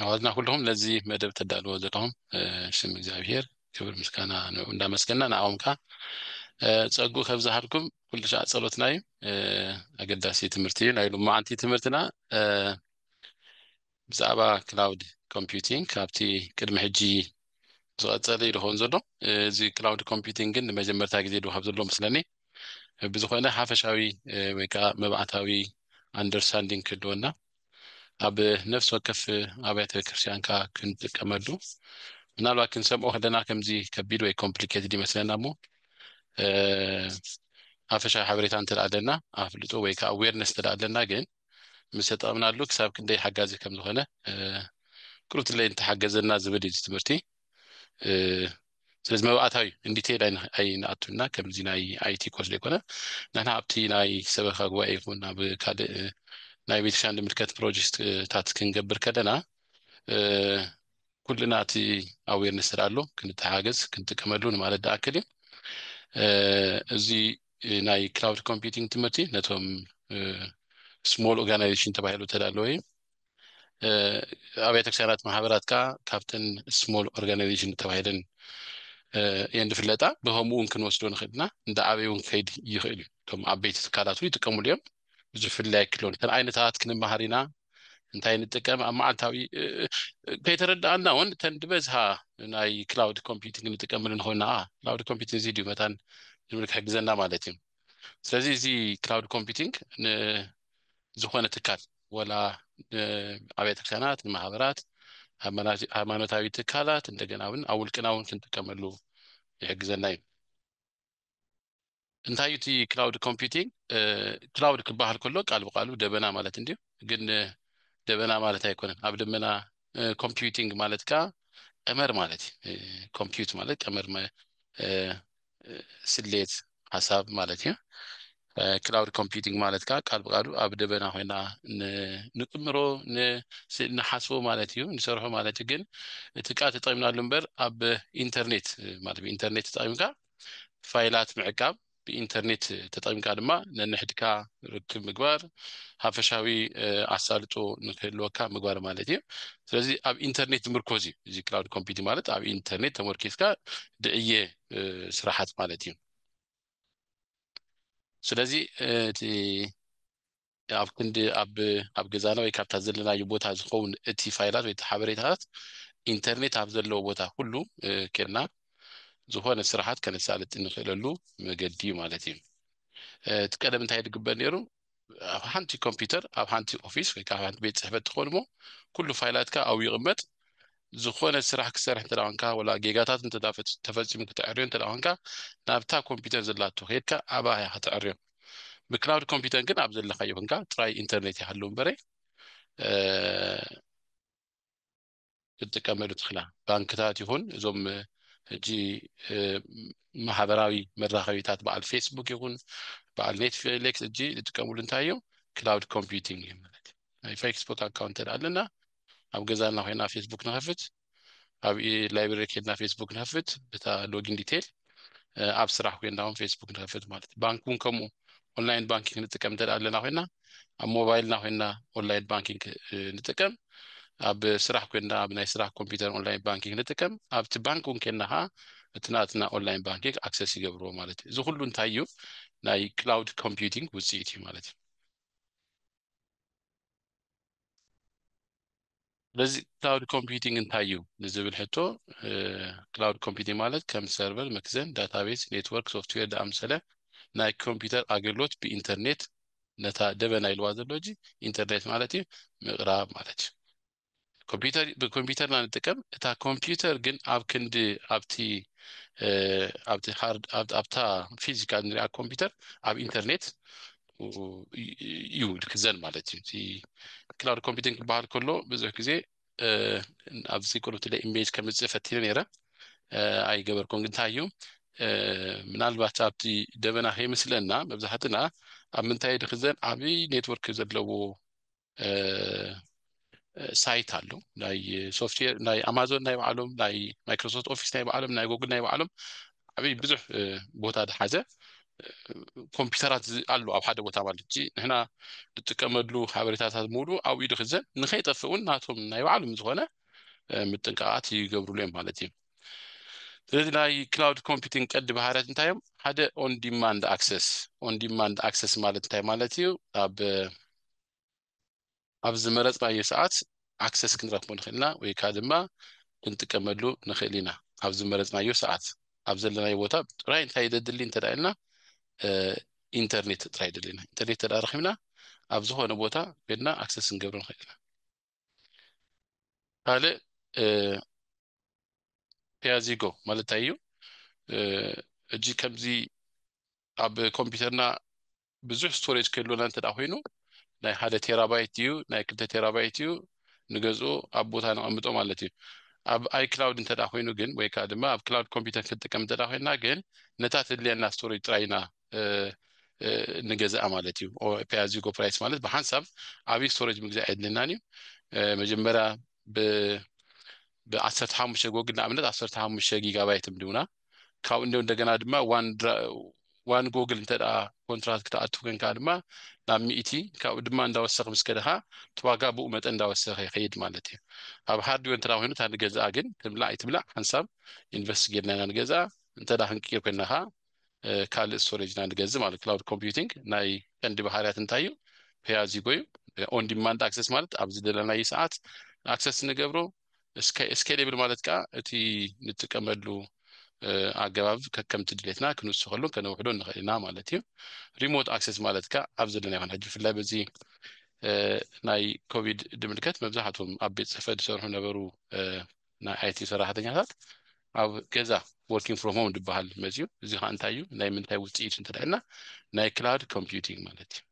ኣሕዋትና ኩልኹም ነዚ መደብ ተዳልዎ ዘለኹም ሽም እግዚኣብሄር ክብር ምስጋና ንዑ እንዳመስገና ንኣኦም ከዓ ፀጉ ከብ ዝሃልኩም ኩሉ ሻዕ ፀሎትና እዩ ኣገዳሲ ትምህርቲ እዩ ናይ ሎማዓንቲ ትምህርትና ብዛዕባ ክላውድ ኮምፒቲንግ ካብቲ ቅድሚ ሕጂ ዝቐፀለ እዩ ዝኸውን ዘሎ እዚ ክላውድ ኮምፒቲንግ ግን ንመጀመርታ ግዜ ዶ ካብ ዘሎ ምስለኒ ብዝኾነ ሓፈሻዊ ወይ ከዓ መብዓታዊ ኣንደርስታንዲንግ ክህልወና ኣብ ነፍሲ ወከፍ ኣብያተ ክርስቲያንካ ክንጥቀመሉ ምናልባት ክንሰምዖ ከለና ከምዚ ከቢድ ወይ ኮምፕሊኬትድ ይመስለና እሞ ሓፈሻዊ ሓበሬታ እንተ ኣለና ኣፍልጦ ወይ ከዓ ኣዌርነስ እንተ ኣለና ግን ምስ ተጠቕምናሉ ክሳብ ክንደይ ሓጋዚ ከም ዝኾነ ቅሩብ ትለይ እንተሓገዘና ዝብል እዩ ትምህርቲ ስለዚ መባእታዊ እንዲቴል ኣይንኣቱ እና ከምዚ ናይ ኣይቲ ኮስ ዘይኮነ ንሕና ኣብቲ ናይ ሰበካ ጉባኤ ይኹን ኣብ ካልእ ናይ ቤተክርስትያን ዝምልከት ፕሮጀክትታት ክንገብር ከለና ኩልና እቲ ኣዌርነስ ስለ ኣሎ ክንተሓገዝ ክንጥቀመሉ ንማለት ድኣክል እዩ እዚ ናይ ክላውድ ኮምፒቲንግ ትምህርቲ ነቶም ስሞል ኦርጋናይዜሽን ተባሂሉ ተዳለወ እዩ ኣብያተ ክርስትያናት ማሕበራት ከኣ ካብተን ስሞል ኦርጋናይዜሽን ተባሂለን እየን ዝፍለጣ ብከምኡ እውን ክንወስዶ ንኽእል ኢና እንዳዓበየ እውን ክኸይድ ይኽእል እዩ እቶም ዓበይቲ ትካላት እውን ይጥቀምሉ እዮም ብዙሕ ፍልላይ ኣይክህልዎን እተን ዓይነታት ክንመሃር ኢና እንታይ ንጥቀም ኣብ መዓልታዊ ከይተረዳእና እውን እተን ዝበዝሃ ናይ ክላውድ ኮምፒውቲንግ ንጥቀምሉ ንኾይና ኣ ክላውድ ኮምፒውቲንግ እዚ ድዩ መታን ዝብል ክሕግዘና ማለት እዩ ስለዚ እዚ ክላውድ ኮምፒውቲንግ ንዝኾነ ትካል ወላ ንኣብያተ ክርስቲያናት ንማህበራት ሃይማኖታዊ ትካላት እንደገና እውን ኣብ ውልቅና እውን ክንጥቀመሉ ይሕግዘና እዩ እንታይ እቲ ክላውድ ኮምፒቲንግ ክላውድ ክበሃል ከሎ ቃል ብቃሉ ደበና ማለት እንድዩ ግን ደበና ማለት ኣይኮነን ኣብ ደመና ኮምፒቲንግ ማለት ከዓ ቀመር ማለት እዩ ኮምፒዩት ማለት ቀመር ስሌት ሓሳብ ማለት እዩ። ክላውድ ኮምፒቲንግ ማለት ከዓ ቃል ብቃሉ ኣብ ደበና ኮይና ንጥምሮ ንሓስቦ ማለት እዩ ንሰርሖ ማለት እዩ ግን እቲ ቃል ተጠቂምናሉ እምበር ኣብ ኢንተርኔት ማለት ብኢንተርኔት ተጠቂምካ ፋይላት ምዕቃብ ብኢንተርኔት ተጠቂምካ ድማ ነንሕድካ ርክብ ምግባር ሓፈሻዊ ኣሳልጦ ንክህልወካ ምግባር ማለት እዩ ስለዚ ኣብ ኢንተርኔት ዝምርኮዝ እዩ እዚ ክላውድ ኮምፒቲንግ ማለት ኣብ ኢንተርኔት ተመርኪዝካ ድዕዬ ስራሓት ማለት እዩ ስለዚ እቲ ኣብ ክንዲ ኣብ ኣብ ገዛና ወይ ካብታ ዘለናዩ ቦታ ዝኸውን እቲ ፋይላት ወይ ሓበሬታታት ኢንተርኔት ኣብ ዘለዎ ቦታ ኩሉ ኬድና ዝኾነ ስራሓት ከነሳልጥ እንኽእለሉ መገዲ ማለት እዩ እቲ ቀደም እንታይ ድግበር ነይሩ ኣብ ሓንቲ ኮምፒውተር ኣብ ሓንቲ ኦፊስ ወይ ከዓ ሓንቲ ቤት ፅሕፈት ትኾን እሞ ኩሉ ፋይላትካ ኣብኡ ይቕመጥ ዝኾነ ስራሕ ክሰርሕ እንተ ኮንካ ወላ ጌጋታት እንተ ተፈፂሙ ክተዕርዮ እንተ ኮንካ ናብታ ኮምፒውተር ዘላቶ ከድካ ኣብኣ ኢኻ ተዕርዮ ብክላውድ ኮምፒውተር ግን ኣብ ዘለካዮ ኮንካ ጥራይ ኢንተርኔት ይሃሉ እምበረ ክንጥቀመሉ ትኽላ ባንክታት ይኹን እዞም ሕጂ ማሕበራዊ መራኸቢታት በዓል ፌስቡክ ይኹን በዓል ኔትፍሌክስ ሕጂ ዝጥቀምሉ እንታይ እዮም ክላውድ ኮምፒቲንግ እዮም ማለት ናይ ፌስቡክ ኣካውንት ተደኣ ኣለና ኣብ ገዛና ኮይና ፌስቡክ ንኸፍት ኣብ ላይብረሪ ከድና ፌስቡክ ንኸፍት በታ ሎጊን ዲቴል ኣብ ስራሕ ኮይንና ውን ፌስቡክ ንኸፍት ማለት እዩ ባንክ ውን ከምኡ ኦንላይን ባንኪንግ ንጥቀም እንተ ኣለና ኮይና ኣብ ሞባይልና ኮይና ኦንላይን ባንኪንግ ንጥቀም ኣብ ስራሕ ኮይና ኣብ ናይ ስራሕ ኮምፒውተር ኦንላይን ባንኪንግ ንጥቀም ኣብቲ ባንክ ውን ኮይና ከዓ እቲ ናትና ኦንላይን ባንኪንግ ኣክሰስ ይገብርዎ ማለት እዩ እዚ ኩሉ እንታይ እዩ ናይ ክላውድ ኮምፒውቲንግ ውፅኢት እዩ ማለት እዩ ስለዚ ክላውድ ኮምፒዩቲንግ እንታይ እዩ ንዝብል ሕቶ ክላውድ ኮምፒዩቲንግ ማለት ከም ሰርቨር፣ መክዘን፣ ዳታቤዝ፣ ኔትወርክ፣ ሶፍትዌር ዝኣምሰለ ናይ ኮምፒዩተር ኣገልግሎት ብኢንተርኔት ነታ ደበና ኢልዋ ዘሎ ሕጂ ኢንተርኔት ማለት እዩ ምቕራብ ማለት እዩ። ኮምፒዩተር ብኮምፒዩተር ኢና ንጥቀም እታ ኮምፒዩተር ግን ኣብ ክንዲ ኣብቲ ኣብቲ ሃርድ ኣብታ ፊዚካል ንሪኣ ኮምፒዩተር ኣብ ኢንተርኔት እዩ ክዘን ማለት እዩ እቲ ክላውድ ኮምፒቲንግ ክበሃል ከሎ ብዙሕ ግዜ ኣብዚ ቅሩብቲ ለ ኢሜጅ ከምፅእ ፈቲነ ነይረ ኣይገበርኩም ግን እንታይ እዩ ምናልባት ኣብቲ ደበና ከይመስለና መብዛሕትና ኣብ ምንታይ ድክዘን ዓብይ ኔትወርክ ዘለዎ ሳይት ኣሎ ናይ ሶፍትዌር ናይ ኣማዞን ናይ ባዕሎም ናይ ማይክሮሶፍት ኦፊስ ናይ ባዕሎም ናይ ጎግል ናይ ባዕሎም ዓብይ ብዙሕ ቦታ ዝሓዘ ኮምፒውተራት ኣሎ ኣብ ሓደ ቦታ ማለት እ ንሕና ንጥቀመሉ ሓበሬታታት ምሉ ኣብ ኢዱ ክዘን ንከይጠፍእ እውን ናቶም ናይ ባዕሎም ዝኾነ ምጥንቃቃት ይገብርሉ እዮም ማለት እዩ ስለዚ ናይ ክላውድ ኮምፒቲንግ ቀዲ ባህርያት እንታይ እዮም ሓደ ኦንዲማንድ ኣክሰስ ኦንዲማንድ ኣክሰስ ማለት እንታይ ማለት እዩ ኣብ ኣብ ዝመረጽናዮ ሰዓት ኣክሰስ ክንረክቦ ንክእል ኢና ወይ ከኣ ድማ ክንጥቀመሉ ንክእል ኢና ኣብ ዝመረጽናዮ ሰዓት ኣብ ዘለናዮ ቦታ ጥራይ እንታይ ዘድሊ እንተ ኢልና ኢንተርኔት ጥራይ የድልየና ኢንተርኔት እንተ ረኪብና ኣብ ዝኾነ ቦታ ኮይና ኣክሰስ ክንገብሮ ንክእል ኢና ካልእ ፒያዚጎ ማለት እንታይ እዩ ሕጂ ከምዚ ኣብ ኮምፒውተርና ብዙሕ ስቶሬጅ ክህልወና እንተድኣ ኮይኑ ናይ ሓደ ቴራባይት ድዩ ናይ ክልተ ቴራባይት እዩ ንገዝኡ ኣብ ቦታ ነቐምጦ ማለት እዩ። ኣብ ኣይክላውድ እንተድኣ ኮይኑ ግን ወይ ከኣ ድማ ኣብ ክላውድ ኮምፒተር ክንጥቀም እንተድኣ ኮይንና ግን ነታ ተድልየና ስቶሬጅ ጥራይ ኢና ንገዝኣ ማለት እዩ። ፔይ ኣዝ ዩ ጎ ፕራይስ ማለት ብሓንሳብ ዓብዪ ስቶሬጅ ምግዛእ ኣየድልየናን እዩ። መጀመርያ ብ ብዓሰርተ ሓሙሽተ ጎግል ንኣብነት ዓሰርተ ሓሙሽተ ጊጋባይት ምድቡና ካብኡ እንዶ እንደገና ድማ ዋን ዋን ጎግል እንተ ኮንትራት ክትኣቱ ኮንካ ድማ ናብ ሚእቲ ካብኡ ድማ እንዳወሰኽ ምስ ከደኻ እቲ ዋጋ ብኡ መጠን እንዳወሰኸ ይኸይድ ማለት እዩ ኣብ ሃርድዌር እንተ ኮይኑ እታ ንገዝኣ ግን ትብላዕ ኣይትብላዕ ሓንሳብ ኢንቨስት ጌርና ኢና ንገዝኣ እንተ ክንቅይር ኮይና ኸዓ ካልእ ስቶሬጅ ኢና ንገዝእ ማለት ክላውድ ኮምፒቲንግ ናይ ቀንዲ ባህርያት እንታይ እዩ ፔያዚጎ እዩ ኦን ዲማንድ ኣክሰስ ማለት ኣብ ዝደለናዩ ሰዓት ኣክሰስ ንገብሮ ስኬሌብል ማለት ከኣ እቲ ንጥቀመሉ ኣገባብ ከከምቲ ድሌትና ክንውስኸሉን ከነውሕዶን ንኽእል ኢና ማለት እዩ። ሪሞት ኣክሰስ ማለት ከኣ ኣብ ዘለና ይኹን ሕጂ ብፍላይ በዚ ናይ ኮቪድ ድምልከት መብዛሕትኦም ኣብ ቤት ጽሕፈት ዝሰርሑ ነበሩ ናይ ኣይቲ ሰራሕተኛታት ኣብ ገዛ ወርኪንግ ፍሮም ሆም ዝበሃል መጽዩ እዚ ከኣ እንታይ እዩ ናይ ምንታይ ውጽኢት እንተድሕና ናይ ክላውድ ኮምፒውቲንግ ማለት እዩ።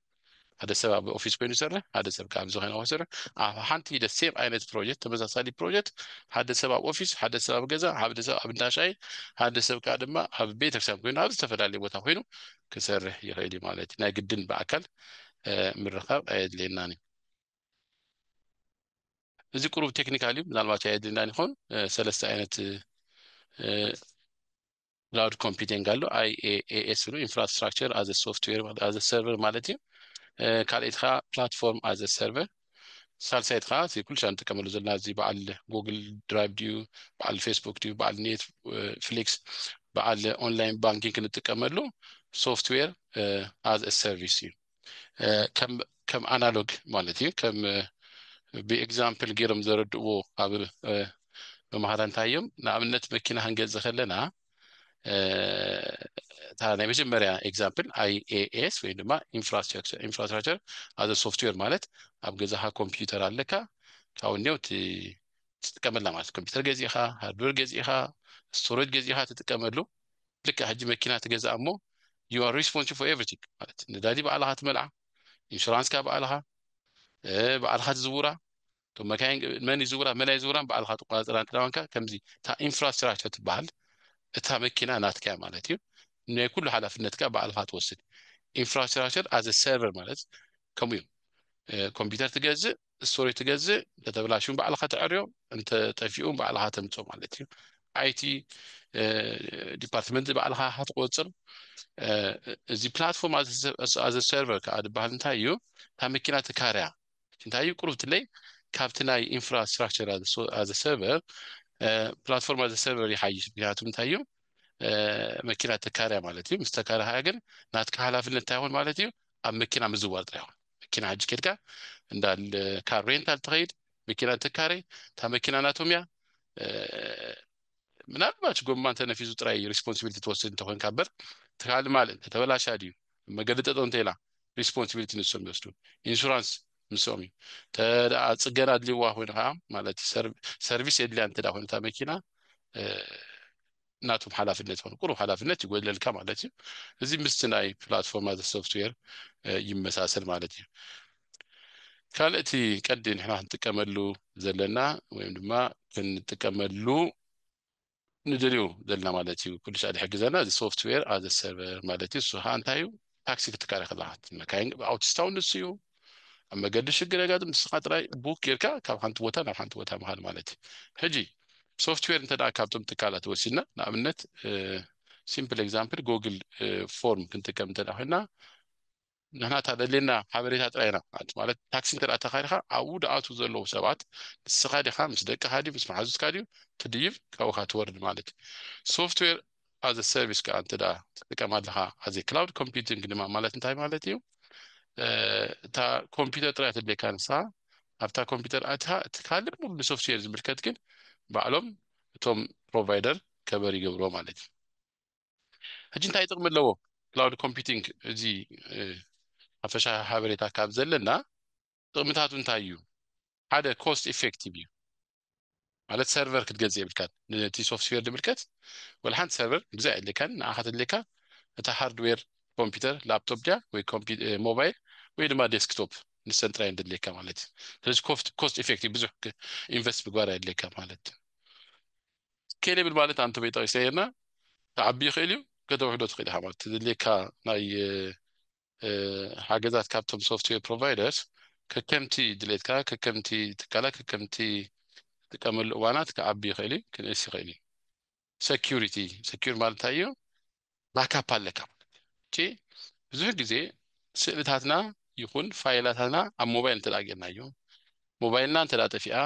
ሓደ ሰብ ኣብ ኦፊስ ኮይኑ ይሰርሕ፣ ሓደ ሰብ ከዓ ኣብዚ ኮይኑ ይሰርሕ። ኣብ ሓንቲ ሂደት ሴም ዓይነት ፕሮጀክት ተመሳሳሊ ፕሮጀክት ሓደ ሰብ ኣብ ኦፊስ፣ ሓደ ሰብ ኣብ ገዛ፣ ሓደ ሰብ ኣብ እንዳ ሻሂ፣ ሓደ ሰብ ከዓ ድማ ኣብ ቤተክርስትያን ኮይኑ ኣብ ዝተፈላለየ ቦታ ኮይኑ ክሰርሕ ይኽእል እዩ ማለት እዩ። ናይ ግድን ብኣካል ምርኻብ ኣየድልየናን እዩ። እዚ ቁሩብ ቴክኒካል እዩ፣ ምናልባት ኣየድልየናን ይኸውን። ሰለስተ ዓይነት ክላውድ ኮምፒቲንግ ኣሎ IaaS ብሎ ኢንፍራስትራክቸር ኣዘ ሶፍትዌር ኣዘ ሰርቨር ማለት እዩ ካልኣይቲ ከዓ ፕላትፎርም ኣዘ ሰርቨር ሳልሳይቲ ከዓ እቲ ኩሉ ሻ ንጥቀመሉ ዘለና እዚ በዓል ጉግል ድራይቭ ድዩ በዓል ፌስቡክ ድዩ በዓል ኔት ፍሊክስ በዓል ኦንላይን ባንኪንግ ክንጥቀመሉ ሶፍትዌር ኣዝ ሰርቪስ እዩ ከም ኣናሎግ ማለት እዩ ከም ብኤግዛምፕል ገይሮም ዘረድእዎ ኣብ መምሃራ እንታይ እዮም ንኣብነት መኪና ክንገዝ ከለና እታ ናይ መጀመርያ ኤግዛምፕል ኣይኤኤስ ወይ ድማ ኢንፍራስትራክቸር ኣዘ ሶፍትዌር ማለት ኣብ ገዛኻ ኮምፒውተር ኣለካ ካብኡ እኒው ትጥቀመላ ማለት ኮምፒውተር ገዚእኻ ሃርድዌር ገዚእኻ ስቶሬጅ ገዚእኻ ትጥቀመሉ ልክዕ ሕጂ መኪና ትገዝኣ እሞ you are responsible for everything ማለት ነዳዲ ባዕልኻ ትመልኣ ኢንሹራንስካ ባዕልኻ ባዕልኻ ትዝውራ እቶም መካይን መን ይዝውራ መን ኣይዝውራን ባዕልኻ ትቆፃፀራ እንትዳዋንካ ከምዚ እታ ኢንፍራስትራክቸር ትበሃል እታ መኪና ናትካ እያ ማለት እዩ ናይ ኩሉ ሓላፍነትካ ባዕልኻ ትወስድ ኢንፍራስትራክቸር ኣዘ ሰርቨር ማለት ከምኡ እዩ ኮምፒውተር ትገዝእ ስቶሪ ትገዝእ እንተተብላሽዩ ባዕልኻ ተዐርዮ እንተ ጠፊኡ ባዕልኻ ተምፅኦ ማለት እዩ ኣይቲ ዲፓርትመንት ባዕልኻ ኢኻ ትቆፅር እዚ ፕላትፎርም ኣዘ ሰርቨር ከዓ ዝበሃል እንታይ እዩ ካብ መኪና ትካርያ እንታይ እዩ ቁሩብ ትለይ ካብቲ ናይ ኢንፍራስትራክቸር ኣዘ ሰርቨር ፕላትፎርም ኣዘ ሰርቨር ይሓይሽ ምክንያቱ እንታይ እዩ መኪና ተካርያ ማለት እዩ ምስ ተካርያ ግን ናትካ ሓላፍነት እንታይ ይኹን ማለት እዩ ኣብ መኪና ምዝዋር ጥራሕ ይኹን መኪና ሕጂ ኬድካ እንዳ ካር ሬንታል ትኸይድ መኪና ትካረ እታ መኪና ናቶም እያ ምናልባች ጎማ እንተነፊሱ ጥራይ ሪስፖንሲቢሊቲ ትወስድ እንተኮንካ እበር ትካል ማል እንተተበላሻ ድዩ መገዲ ጠጦ እንተኢላ ሪስፖንሲቢሊቲ ንሶም ይወስዱ ኢንሹራንስ ምስኦም እዩ ተደኣ ፅገና ኣድልይዋ ኮይኑ ከዓ ማለት ሰርቪስ የድልያ እንተ ኮይነታ መኪና ናቶም ሓላፍነት ይኾኑ ቁሩብ ሓላፍነት ይጎድለልካ ማለት እዩ እዚ ምስቲ ናይ ፕላትፎርም ኣዘ ሶፍትዌር ይመሳሰል ማለት እዩ ካልእ እቲ ቀዲ ንሕና ክንጥቀመሉ ዘለና ወይም ድማ ክንጥቀመሉ ንደልዩ ዘለና ማለት እዩ ኩሉ ሳዕ ዝሕግዘና እዚ ሶፍትዌር ኣዘ ሰርቨር ማለት እዩ እሱ ከዓ እንታይ እዩ ታክሲ ክትካረ ከለካ መካይን ኣውቲስታውን ንሱ እዩ ኣብ መገዲ ሽግር የጋጥም ንስካ ጥራይ ቡክ ጌርካ ካብ ሓንቲ ቦታ ናብ ሓንቲ ቦታ ምካድ ማለት እዩ ሕጂ ሶፍትዌር እንተ ካብቶም ትካላት ወሲድና ንኣብነት ሲምፕል ኤግዛምፕል ጎግል ፎርም ክንጥቀም እንተ ኮይና ንሕና እታ ደልየና ሓበሬታ ጥራይ ኢና ማለት ታክሲ እንተ ተኻይድካ ኣብኡ ድኣትዉ ዘለዉ ሰባት ንስኻ ዲኻ ምስ ደቅኻ ድዩ ምስ መሓዙትካ ድዩ ትድይብ ካብኡካ ትወርድ ማለት እዩ ሶፍትዌር as a service ከኣ እንተ ትጥቀም ኣለኻ as a cloud computing ድማ ማለት እንታይ ማለት እዩ እታ ኮምፒተር ጥራይ ተድልየካ ንሳ ኣብታ ኮምፒተር ኣትኻ እቲ ካልእ ሙሉ ንሶፍትዌር ዝምልከት ግን ባዕሎም እቶም ፕሮቫይደር ከበር ይገብሮ ማለት እዩ ሕጂ እንታይ ጥቕሚ ኣለዎ ክላውድ ኮምፒቲንግ እዚ ሓፈሻ ሓበሬታ ካብ ዘለና ጥቕምታቱ እንታይ እዩ? ሓደ ኮስት ኤፌክቲቭ እዩ ማለት ሰርቨር ክትገዝእ የብልካን ነቲ ሶፍትዌር ድምልከት ወላ ሓንቲ ሰርቨር ግዛ የድልካን ንዓኻ ተድልካ እታ ሃርድዌር ኮምፒውተር ላፕቶፕ ድያ ወይ ሞባይል ወይ ድማ ዴስክቶፕ ንሰን ጥራይ ድድልካ ማለት እዩ ስለዚ ኮስት ኤፌክቲቭ ብዙሕ ኢንቨስት ምግባር የድልካ ማለት ኬሌብል ማለት ኣንተ በይ ጠቂሰ ርና ተዓቢ ይኽእል እዩ ከተውሕዶ ትኽእል ኢኻ ማለት ትድልካ ናይ ሓገዛት ካብቶም ሶፍትዌር ፕሮቫይደርስ ከከምቲ ድሌትካ፣ ከከምቲ ትካላት፣ ከከምቲ ትጥቀመሉ እዋናት ክዓቢ ይኽእል እዩ፣ ክንእስ ይኽእል እዩ። ሰኪዩሪቲ፣ ሰኪዩር ማለት እንታይ እዩ? ባካፕ ኣለካ ማለት እዩ። እቺ ብዙሕ ግዜ ስእልታትና ይኹን ፋይላታትና ኣብ ሞባይል እንተድኣ ጌርናዮ፣ ሞባይልና እንተድኣ ጠፊኣ፣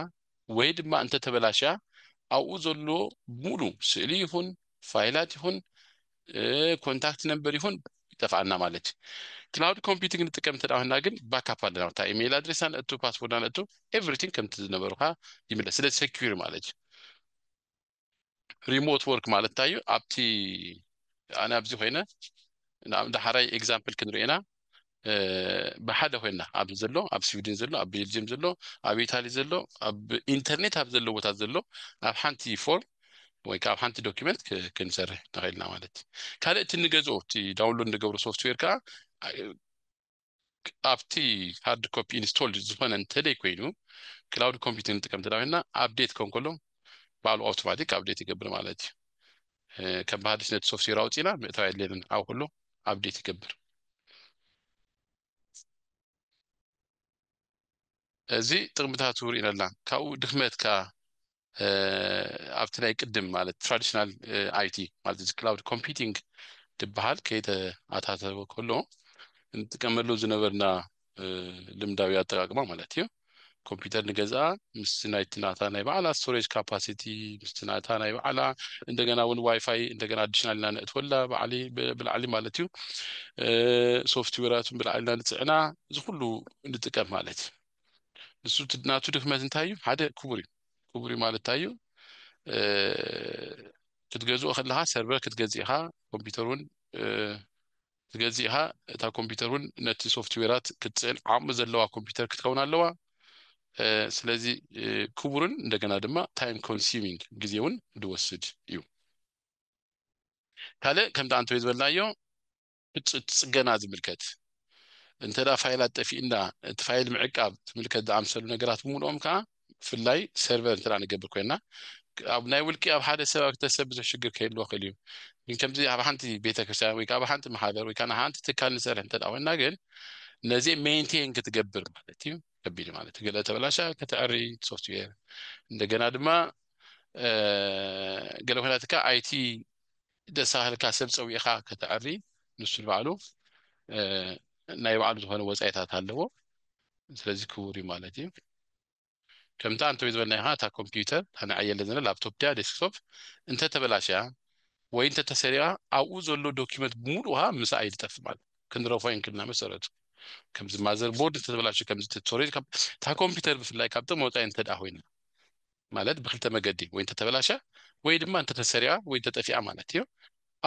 ወይ ድማ እንተ ተበላሽያ ኣብኡ ዘሎ ሙሉ ስእሊ ይኹን ፋይላት ይኹን ኮንታክት ነምበር ይኹን ይጠፍኣና ማለት እዩ። ክላውድ ኮምፒቲንግ ንጥቀም እንተ ኮይንና ግን ባካፕ ኣለና እታ ኢመይል ኣድሬሳ ነእቱ ፓስዎርድና ነእቱ ኤቭሪቲንግ ከምቲ ዝነበሩካ ይምለስ ስለ ሰኪዩር ማለት እዩ። ሪሞት ወርክ ማለት እንታይ እዩ ኣብቲ ኣነ ኣብዚ ኮይነ ንኣብነት ሓራይ ኤግዛምፕል ክንሪኦ ኢና ብሓደ ኮይና ኣብዚ ዘሎ ኣብ ስዊድን ዘሎ ኣብ ቤልጅየም ዘሎ ኣብ ኢታሊ ዘሎ ኣብ ኢንተርኔት ኣብ ዘሎ ቦታ ዘሎ ኣብ ሓንቲ ፎርም ወይ ካብ ሓንቲ ዶኪመንት ክንሰርሕ ንኽእልና ማለት እዩ ካልእ እቲ ንገዝኦ እቲ ዳውንሎድ ንገብሮ ሶፍትዌር ከዓ ኣብቲ ሃርድ ኮፒ ኢንስቶልድ ዝኾነ እንተዘይ ኮይኑ ክላውድ ኮምፒቲንግ ንጥቀም እንተ ኮይና ኣፕዴት ክኸውን ከሎ ባዕሉ ኣውቶማቲክ ኣፕዴት ይገብር ማለት እዩ። ከም ባህዲስ ነቲ ሶፍትዌር ኣውፂና ምእታው የድልየንን ኣብ ኩሉ ኣፕዴት ይገብር። እዚ ጥቕምታቱ ርኢናላ ካብኡ ድኽመት ከኣ ኣብቲ ናይ ቅድም ማለት ትራዲሽናል ኣይቲ ማለት እዚ ክላውድ ኮምፒቲንግ ድበሃል ከይተኣታተወ ከሎ እንጥቀመሉ ዝነበርና ልምዳዊ ኣጠቃቅማ ማለት እዩ ኮምፒውተር ንገዝኣ ምስቲ ናይቲ ናታ ናይ ባዕላ ስቶሬጅ ካፓሲቲ ምስቲ ናታ ናይ ባዕላ እንደገና እውን ዋይፋይ እንደገና ኣዲሽናል ኢና ነእትወላ ባዕሊ ብላዕሊ ማለት እዩ ሶፍትዌራቱን ብላዕሊ ኢና ንፅዕና እዚ ኩሉ ንጥቀም ማለት እዩ ንሱ ናቱ ድክመት እንታይ እዩ ሓደ ክቡር እዩ ክቡር እዩ ማለት እንታይ እዩ ክትገዝኦ ከለካ ሰርቨር ክትገዝእ ኢካ ኮምፒውተር እውን ክትገዝእ ኢካ እታ ኮምፒውተር እውን ነቲ ሶፍትዌራት ክትፅዕን ዓቕሚ ዘለዋ ኮምፒውተር ክትከውን ኣለዋ ስለዚ ክቡርን እንደገና ድማ ታይም ኮንሱሚንግ ግዜ እውን ዝወስድ እዩ ካልእ ከምቲ ኣንተ ዝበልናዮ እቲ ጽገና ዝምልከት፣ እንተ ፋይላት ጠፊኡና እቲ ፋይል ምዕቃብ ዝምልከት ዝኣምሰሉ ነገራት ብምሉኦም ከኣ ብፍላይ ሰርቨር እንተ ንገብር ኮይና ኣብ ናይ ውልቂ ኣብ ሓደ ሰብ ኣብ ክልተ ሰብ ብዙሕ ሽግር ከይህልዎ ክእል እዩ ግን ከምዚ ኣብ ሓንቲ ቤተ ክርስቲያን ወይ ኣብ ሓንቲ ማሕበር ወይ ኣብ ሓንቲ ትካል ንሰርሕ እንተ ኮይና ግን ነዚ ሜንቴን ክትገብር ማለት እዩ ከቢድ ማለት ገለ ተበላሻ ከተዕሪ ሶፍትዌር እንደገና ድማ ገለ ኮይናትካ ኣይቲ ደሳህልካ ሰብ ጸዊዕካ ከተዐሪ ንሱ ንባዕሉ ናይ ባዕሉ ዝኾነ ወጻኢታት ኣለዎ ስለዚ ክቡር እዩ ማለት እዩ ከምታ ኣንተ ዝበልናዮ ኸዓ እታ ኮምፒዩተር እታ ንዐየለ ዘለና ላፕቶፕ ድያ ዴስክቶፕ እንተተበላሽያ ወይ እንተተሰሪቓ ኣብኡ ዘሎ ዶክመንት ብምሉኡ ኸዓ ምስኣ እዩ ዝጠፍእ ማለት እዩ ክንረፎ የንክልና መሰረቱ ከምዚ ማዘር ቦርድ እንተተበላሽዩ ከምዚ ቱቶሪል እታ ኮምፒዩተር ብፍላይ ካብቶም ወጻኢ እንተድኣ ኮይና ማለት ብክልተ መገዲ ወይ እንተተበላሽያ ወይ ድማ እንተተሰሪቃ ወይ እንተጠፊኣ ማለት እዮ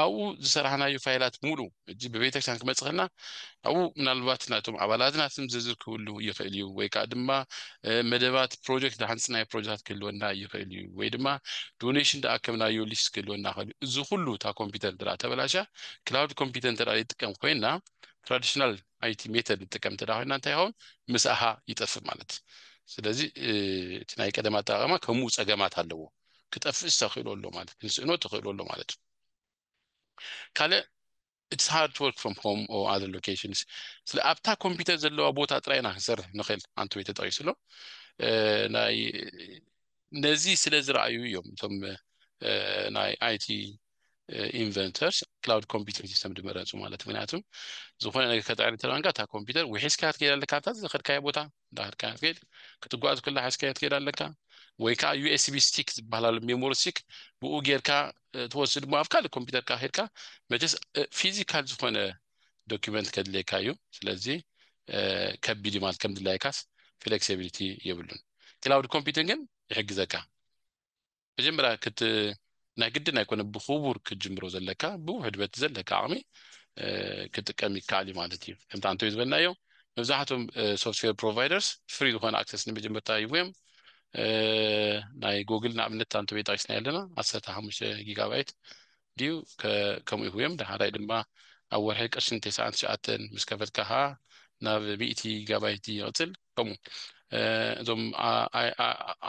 ኣብኡ ዝሰራሕናዩ ፋይላት ሙሉ እጂ ብቤተክርስቲያን ክመፅኸና ኣብኡ ምናልባት ናይቶም ኣባላትና ስም ዝርዝር ክህሉ ይኽእል እዩ ወይ ከዓ ድማ መደባት ፕሮጀክት ዝሓንፅናዮ ፕሮጀክታት ክህልወና ይኽእል እዩ ወይ ድማ ዶኔሽን ዝኣከብናዮ ሊስት ክህልወና ይኽእል እዩ እዚ ኩሉ እታ ኮምፒውተር እንተ ተበላሽያ ክላውድ ኮምፒውተር እንተ ይጥቀም ኮይና ትራዲሽናል ኣይቲ ሜተድ ንጥቀም እንተ ኮይና እንታይ ይኸውን ምስኣኻ ይጠፍእ ማለት እዩ ስለዚ እቲ ናይ ቀደም ኣጠቃቅማ ከምኡ ፀገማት ኣለዎ ክጠፍእስ ተኽእሎ ኣሎ ማለት ክንስእኖ ተኽእሎ ኣሎ ማለት እዩ ካልእ ኢትስ ሃርድ ወርክ ፍሮም ሆም ኦ ኣዘር ሎኬሽንስ ስለ ኣብታ ኮምፒውተር ዘለዋ ቦታ ጥራይ ኢና ክንሰርሕ ንኽእል ኣንተ ወይ ተጠቂሱ ኣሎ ናይ ነዚ ስለ ዝረኣዩ እዮም እቶም ናይ ኣይቲ ኢንቨንተርስ ክላውድ ኮምፒውቲንግ ሲስተም ድመረፁ ማለት ምክንያቱ ዝኾነ ነገር ከጣዕሪ ተለዋንካ እታ ኮምፒውተር ውሒስካ ክትከይድ ኣለካ ኣብታ ዝኸድካዮ ቦታ እንዳኸድካ ክትከይድ ክትጓዝ ኩላ ሓስካዮ ትከይድ ኣለካ ወይ ከዓ ዩኤስቢ ስቲክ ዝበሃል ኣሎ ሜሞሪ ስቲክ ብኡ ጌርካ ትወስድ ሞ ኣብ ካልእ ኮምፒውተርካ ሄድካ መቸስ ፊዚካል ዝኾነ ዶኪመንት ከድልየካ እዩ ስለዚ ከቢድ ማለት ከም ድላይካስ ፍሌክሲቢሊቲ የብሉን ክላውድ ኮምፒውቲንግ ግን ይሕግዘካ መጀመርያ ክት ናይ ግድን ኣይኮነ ብኩቡር ክትጅምሮ ዘለካ ብውሕድ በቲ ዘለካ ዓቅሚ ክጥቀም ይከኣል እዩ ማለት እዩ ከምቲ ኣንቶይ ዝበልናዮ መብዛሕቶም ሶፍትዌር ፕሮቫይደርስ ፍሪ ዝኮነ ኣክሰስ ንመጀመርታ ይህቡዮም ናይ ጎግል ንኣብነት ኣንቶ ቤት ጠቂስናዮ ኣለና ዓሰርተ ሓሙሽተ ጊጋባይት ድዩ ከምኡ ይህቡዮም ዳሓራይ ድማ ኣብ ወርሒ ቅርሽን ቴስዓን ትሽዓተን ምስ ከፈልካ ከዓ ናብ ሚእቲ ጊጋባይት ይቅፅል ከምኡ እዞም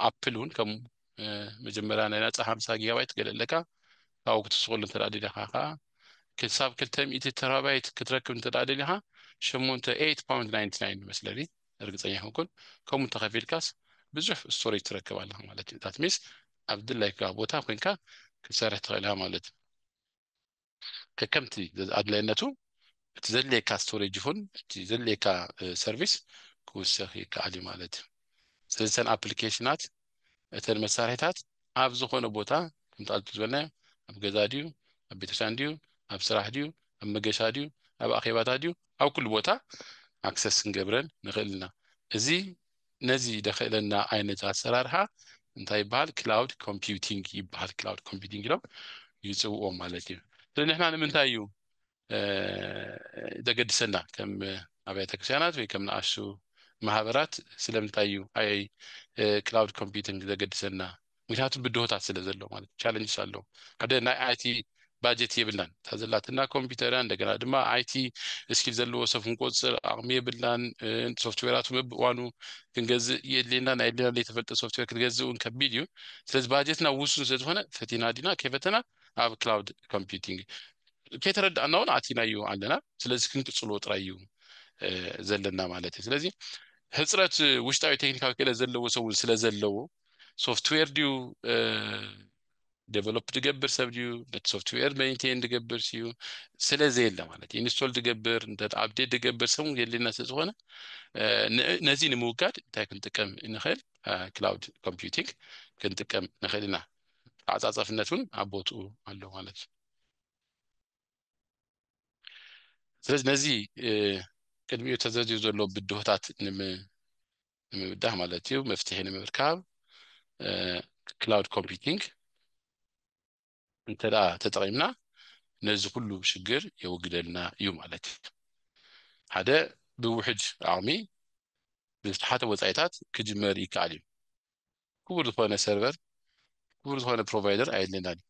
ኣፕል እውን ከምኡ መጀመርያ ናይ ናጻ ሓምሳ ጊጋባይት ትገለ ኣለካ ካብኡ ክትስቁሉ እንተ ደሊኻ ከኣ ክሳብ ክልተ ሚእቲ ተራባይት ክትረክብ እንተ ደሊኻ ሸሞንተ ኤይት ፓውንድ ናይንቲ ናይን መስለኒ እርግጸኛ ኣይኮንኩን ከምኡ እንተኸፊልካስ ብዙሕ ስቶሬጅ ትረክብ ኣለኻ ማለት እዩ ዳት ሚንስ ኣብ ድላይካ ቦታ ኮንካ ክትሰርሕ ትኽእል ኢኻ ማለት እዩ ከከምቲ ኣድላይነቱ እቲ ዘድልየካ ስቶሬጅ ይኹን እቲ ዘድልየካ ሰርቪስ ክውሰኽ ይከኣል እዩ ማለት እዩ ስለዚ እተን ኣፕሊኬሽናት እተን መሳርሒታት ኣብ ዝኾነ ቦታ ከምቲ ኣዚ ዝበልናዮ ኣብ ገዛ ድዩ ኣብ ቤተክርስትያን ድዩ ኣብ ስራሕ ድዩ ኣብ መገሻ ድዩ ኣብ ኣኼባታት ድዩ ኣብ ኩሉ ቦታ ኣክሰስ ክንገብረን ንኽእል ኢና እዚ ነዚ ደኽእለና ዓይነት ኣሰራርሓ እንታይ ይበሃል ክላውድ ኮምፒውቲንግ ይበሃል ክላውድ ኮምፒውቲንግ ኢሎም ይፅውኦ ማለት እዩ ስለዚ ንሕና ንምንታይ እዩ ዘገድሰና ከም ኣብያተ ክርስቲያናት ወይ ከም ንኣሽቱ ማህበራት ስለምንታይ እዩ ኣይ ክላውድ ኮምፒውቲንግ ዘገድሰና ምክንያቱ ብድሆታት ስለ ዘሎ ማለት እዩ ቻለንጅስ ኣሎ ሓደ ናይ ኣይቲ ባጀት የብልናን እታ ዘላትና ኮምፒውተር እያ እንደገና ድማ ኣይቲ እስኪል ዘለዎ ሰብ ክንቆፅር ኣቕሚ የብልናን ሶፍትዌራቱ በብእዋኑ ክንገዝእ የድልየና ናይ የድልየና ዘይተፈልጠ ሶፍትዌር ክትገዝእ እውን ከቢድ እዩ ስለዚ ባጀትና ውሱን ስለ ዝኾነ ፈቲና ዲና ከይፈተና ኣብ ክላውድ ኮምፒውቲንግ ከይተረዳእና እውን ኣቲናዩ ኣለና ስለዚ ክንቅፅልዎ ጥራይ እዩ ዘለና ማለት እዩ ስለዚ ህፅረት ውሽጣዊ ቴክኒካዊ ክእለት ዘለዎ ሰብን ስለ ዘለዎ ሶፍትዌር ድዩ ዴቨሎፕ ድገብር ሰብ ድዩ ነቲ ሶፍትዌር መኒቴን ድገብር ስዩ ስለዘየለ ማለት እዩ ኢንስቶል ድገብር እንተ ኣብዴት ድገብር ሰብ የድልየና ስለዝኾነ ነዚ ንምውጋድ እንታይ ክንጥቀም ንኽእል ክላውድ ኮምፒውቲንግ ክንጥቀም ንኽእል ኢና ተዓፃፃፍነት እውን ኣብ ቦትኡ ኣሎ ማለት እዩ ስለዚ ነዚ ቅድሚኡ ተዘርዚሩ ዘሎ ብድሆታት ንምብዳህ ማለት እዩ መፍትሒ ንምርካብ ክላውድ ኮምፒቲንግ እንተ ተጠቒምና ነዚ ኩሉ ሽግር የወግደልና እዩ ማለት እዩ ሓደ ብውሕድ ዓቕሚ ብዝተሓተ ወፃኢታት ክጅመር ይከኣል እዩ ክቡር ዝኾነ ሰርቨር ክቡር ዝኾነ ፕሮቫይደር ኣየድለናን እዩ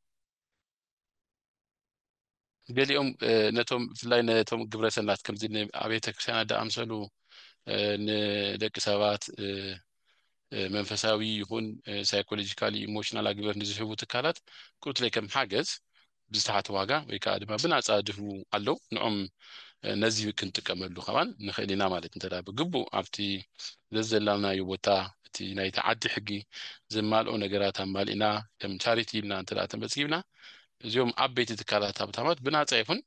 ገሊኦም ነቶም ብፍላይ ነቶም ግብረ ሰናት ከምዚ ንኣብያተ ክርስቲያናት ዝኣምሰሉ ንደቂ ሰባት መንፈሳዊ ይኹን ሳይኮሎጂካሊ ኢሞሽናል ኣግበር ንዝህቡ ትካላት ቁርትለይ ከም ሓገዝ ብዝተሓተ ዋጋ ወይ ከዓ ድማ ብናፃ ድህቡ ኣለው ንኦም ነዚ ክንጥቀመሉ ከማን ንኽእል ኢና ማለት እንተ ብግቡእ ኣብቲ ዘዘላናዩ ቦታ እቲ ናይቲ ዓዲ ሕጊ ዘማልኦ ነገራት ኣማሊእና ከም ቻሪቲ ኢልና እንተ ተመዝጊብና እዚኦም ዓበይቲ ትካላት ሃብታማት ብናፃ ይኹን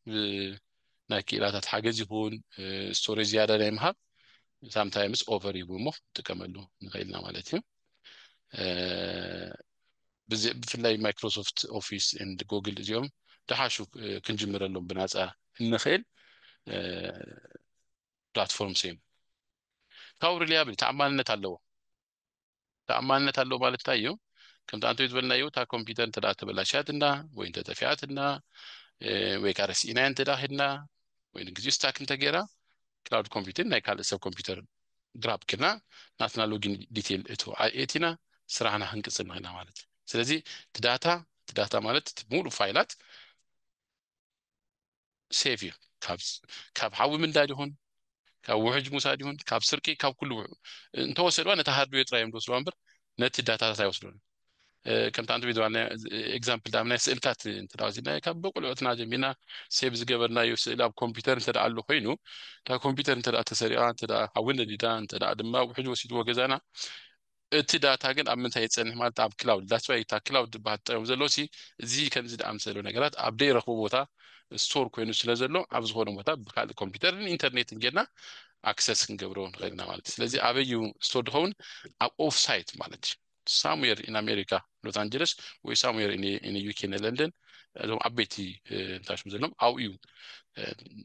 ናይ ክኢላታት ሓገዝ ይኹን ስቶሬጅ ዝያዳ ናይ ምሃብ ሳምታይምስ ኦቨር ይብሉ እሞ ንጥቀመሉ ንኽእል ኢና ማለት እዩ ብፍላይ ማይክሮሶፍት ኦፊስ ንድ ጎግል እዚኦም ድሓሹ ክንጅምረሎም ብናፃ እንኽእል ፕላትፎርም ስኢኑ ታው ሪልያብል ተኣማንነት ኣለዎ ተኣማንነት ኣለዎ ማለት እንታይ እዩ ከምቲ ኣንቶይ ዝበልናዮ እታ ኮምፒተር እንተ ተበላሽያትና ወይ እንተ ጠፊኣትና ወይ ከዓ ረሲእናዮ እንተ ሄድና ወይ ንግዜኡ ስታክ እንተገይራ ክላውድ ኮምፒተር ናይ ካልእ ሰብ ኮምፒተር ግራብ ክና ናትና ሎጊን ዲቴል እቱ ኣኤቲና ስራሕና ክንቅፅል ንኽእልና ማለት እዩ ስለዚ እቲ ዳታ እቲ ዳታ ማለት እቲ ሙሉእ ፋይላት ሴፍ እዩ ካብ ሓዊ ምንዳድ ይኹን ካብ ውሕጅ ምውሳድ ይኹን ካብ ስርቂ ካብ ኩሉ እንተወሰድዋ ነቲ ሃርድዌር ጥራይ እዮም ዝወስድዋ እምበር ነቲ ዳታታት ኣይወስዱን ከምቲ ኣንቲ ቪድዋና ኤግዛምፕል ዳም ናይ ስእልታት እንተ ወሲድና ካብ በቁልዑትና ጀሚርና ሴብ ዝገበርናዩ ስእሊ ኣብ ኮምፒውተር እንተ ኣሎ ኮይኑ እታ ኮምፒውተር እንተ ተሰሪቓ እንተ ሓዊ ነዲዳ እንተ ድማ ውሕጅ ወሲድዎ ገዛና እቲ ዳታ ግን ኣብ ምንታይ ይጸንሕ ማለት ኣብ ክላውድ ዳትስ ዋይ እታ ክላውድ ትበሃል ትጠቀም ዘሎ ሲ እዚ ከምዚ ዝኣምሰሉ ነገራት ኣብ ደይረኽቦ ቦታ ስቶር ኮይኑ ስለ ዘሎ ኣብ ዝኾነ ቦታ ብካልእ ኮምፒውተርን ኢንተርኔትን ጌርና ኣክሰስ ክንገብሮ ንኽእል ኢና ማለት እዩ ስለዚ ኣበይ እዩ ስቶር ዝኸውን ኣብ ኦፍ ሳይት ማለት እዩ ሳሙዌር ኢን ኣሜሪካ ሎስ ኣንጀለስ ወይ ሳሙዌር ኢን ዩኬ ን ለንደን እዞም ዓበይቲ እንታይ ሽም ዘለዎም ኣብኡ እዩ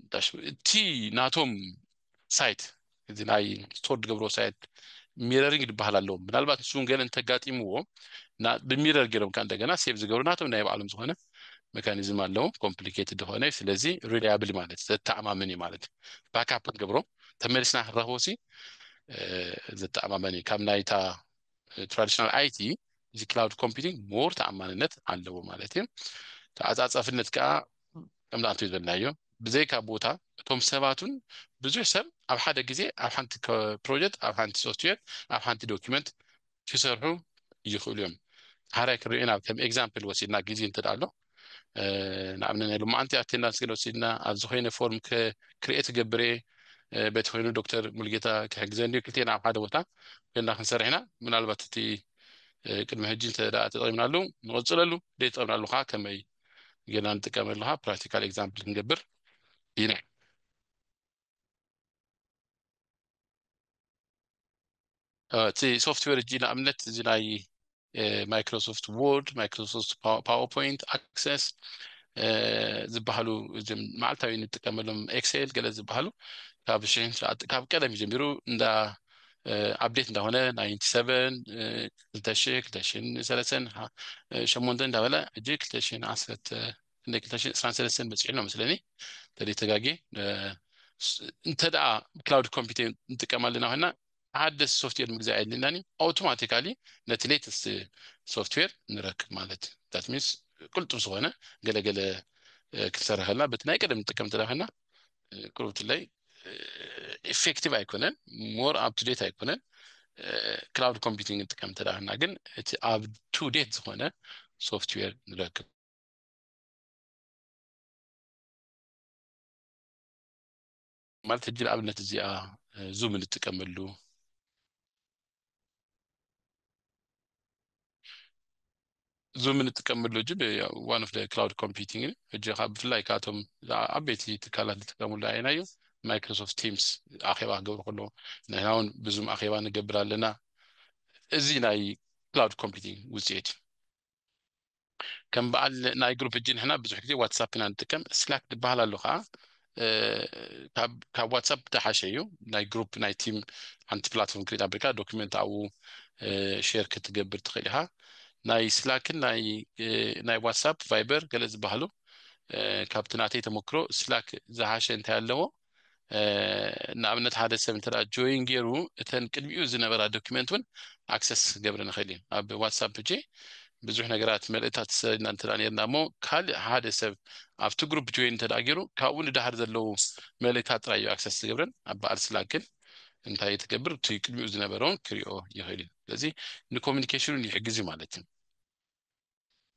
እንታይ ሽም እቲ ናቶም ሳይት እዚ ናይ ስቶር ዝገብርዎ ሳይት ሚረሪንግ ዝበሃል ኣለዎ ምናልባት ንሱ እውን ገለ እንተጋጢምዎ ብሚረር ገይሮም ከዓ እንደገና ሴቭ ዝገብሩ ናቶም ናይ ባዕሎም ዝኾነ መካኒዝም ኣለዎም ኮምፕሊኬትድ ዝኾነ እዩ ስለዚ ሪላያብል ማለት ዘተኣማምን እዩ ማለት እዩ ባካፕ ክንገብሮ ተመሊስና ክንረኽቦ ሲ ዘተኣማመን እዩ ካብ ናይታ ትራዲሽናል ኣይቲ እዚ ክላውድ ኮምፒቲንግ ሞር ተኣማንነት ኣለዎ ማለት እዩ ተዓፃፃፍነት ከዓ ከም ዝኣተዩ ዘልናዮ ብዘይካ ቦታ እቶም ሰባቱን ብዙሕ ሰብ ኣብ ሓደ ግዜ ኣብ ሓንቲ ፕሮጀክት ኣብ ሓንቲ ሶፍትዌር ኣብ ሓንቲ ዶኪመንት ክሰርሑ ይኽእሉ እዮም ሓራይ ክንሪኦ ናብ ከም ኤግዛምፕል ወሲድና ግዜ እንተ ኣሎ ንኣብነት ናይ ሎማዓንቲ ኣቴንዳንስ ገለ ወሲድና ኣብ ዝኾይነ ፎርም ክርኤት ገብረ በቲ ኮይኑ ዶክተር ሙልጌታ ክሕግዘን ድዩ ክልቴና ኣብ ሓደ ቦታ ኮይና ክንሰርሕ ኢና ምናልባት እቲ ቅድሚ ሕጂ እንተ ተጠቂምናሉ ንቕፅለሉ ደይተጠቂምናሉ ከዓ ከመይ ገና ንጥቀመሉ ከኣ ፕራክቲካል ኤግዛምፕል ክንገብር ኢና እቲ ሶፍትዌር እጂ ንኣብነት እዚ ናይ ማይክሮሶፍት ዎርድ ማይክሮሶፍት ፓወርፖይንት ኣክሰስ ዝበሃሉ እዞም መዓልታዊ እንጥቀመሎም ኤክሴል ገለ ዝበሃሉ ካብ ሽሕን ትሽዓተ ካብ ቀደም እዩ ጀሚሩ እንዳ ኣብዴት እንዳኾነ ናይንቲ ሰቨን ክልተ ሽሕ ክልተ ሽሕን ሰለስተን ሸሞንተን እንዳበለ ሕጂ ክልተ ሽሕን ዓሰርተ ክንደይ ክልተ ሽሕን ዕስራን ሰለስተን በፂሑ ኣሎ መስለኒ እንተደይ ተጋጌ እንተደኣ ክላውድ ኮምፒውተር ንጥቀም ኣለና ኮይና ሓደ ሶፍትዌር ምግዛእ የድልናኒ ኣውቶማቲካሊ ነቲ ሌተስት ሶፍትዌር ንረክብ ማለት ዳት ሚንስ ቅልጡፍ ዝኾነ ገለገለ ክንሰርሕ ከለና በቲ ናይ ቀደም ንጥቀም እንተደኣ ኮይና ክሩትለይ ኢፌክቲቭ ኣይኮነን ሞር ኣብ ቱዴት ኣይኮነን ክላውድ ኮምፒቲንግ ንጥቀም ተዳህና ግን እቲ ኣብ ቱዴት ዝኾነ ሶፍትዌር ንረክብ ማለት ሕጂ ንኣብነት እዚኣ ዙም እንጥቀመሉ ዙም እንጥቀመሉ እጅ ዋን ኦፍ ክላውድ ኮምፒቲንግ እጅ ካብ ብፍላይ ካብቶም ዓበይቲ ትካላት ዝጥቀምሉ ኣይና እዩ ማይክሮሶፍት ቲምስ ኣኼባ ክገብሩ ከሎ ንሕና እውን ብዙም ኣኼባ ንገብር ኣለና እዚ ናይ ክላውድ ኮምፒቲንግ ውፅኢት እዩ ከም በዓል ናይ ግሩፕ ሕጂ ንሕና ብዙሕ ግዜ ዋትሳፕ ኢና ንጥቀም ስላክ ዝበሃል ኣሎ ከኣ ካብ ዋትሳፕ ዝሓሸ እዩ ናይ ግሩፕ ናይ ቲም ሓንቲ ፕላትፎርም ክሬት ኣቢልካ ዶክመንት ኣብኡ ሼር ክትገብር ትኽእል ኢኻ ናይ ስላክን ናይ ዋትሳፕ ቫይበር ገለ ዝበሃሉ ካብቲ ናተይ ተመክሮ ስላክ ዝሓሸ እንታይ ኣለዎ ንኣብነት ሓደ ሰብ እንተ ጆይን ጌሩ እተን ቅድሚኡ ዝነበራ ዶክመንት ውን ኣክሰስ ክገብረን ይኽእል እዩ ኣብ ዋትሳፕ ሕጂ ብዙሕ ነገራት መልእታት ተሰሪድና እንተ ነርና እሞ ካልእ ሓደ ሰብ ኣብቲ ግሩፕ ጆይን እንተ ጌሩ ካብኡ ንዳሃር ዘለዉ መልእታት ጥራይ እዩ ኣክሰስ ዝገብረን ኣብ በዓል ስላክ ግን እንታይ እዩ ትገብር እቲ ቅድሚኡ ዝነበረውን ክሪኦ ይኽእል እዩ ስለዚ ንኮሚኒኬሽን ውን ይሕግዝ እዩ ማለት እዩ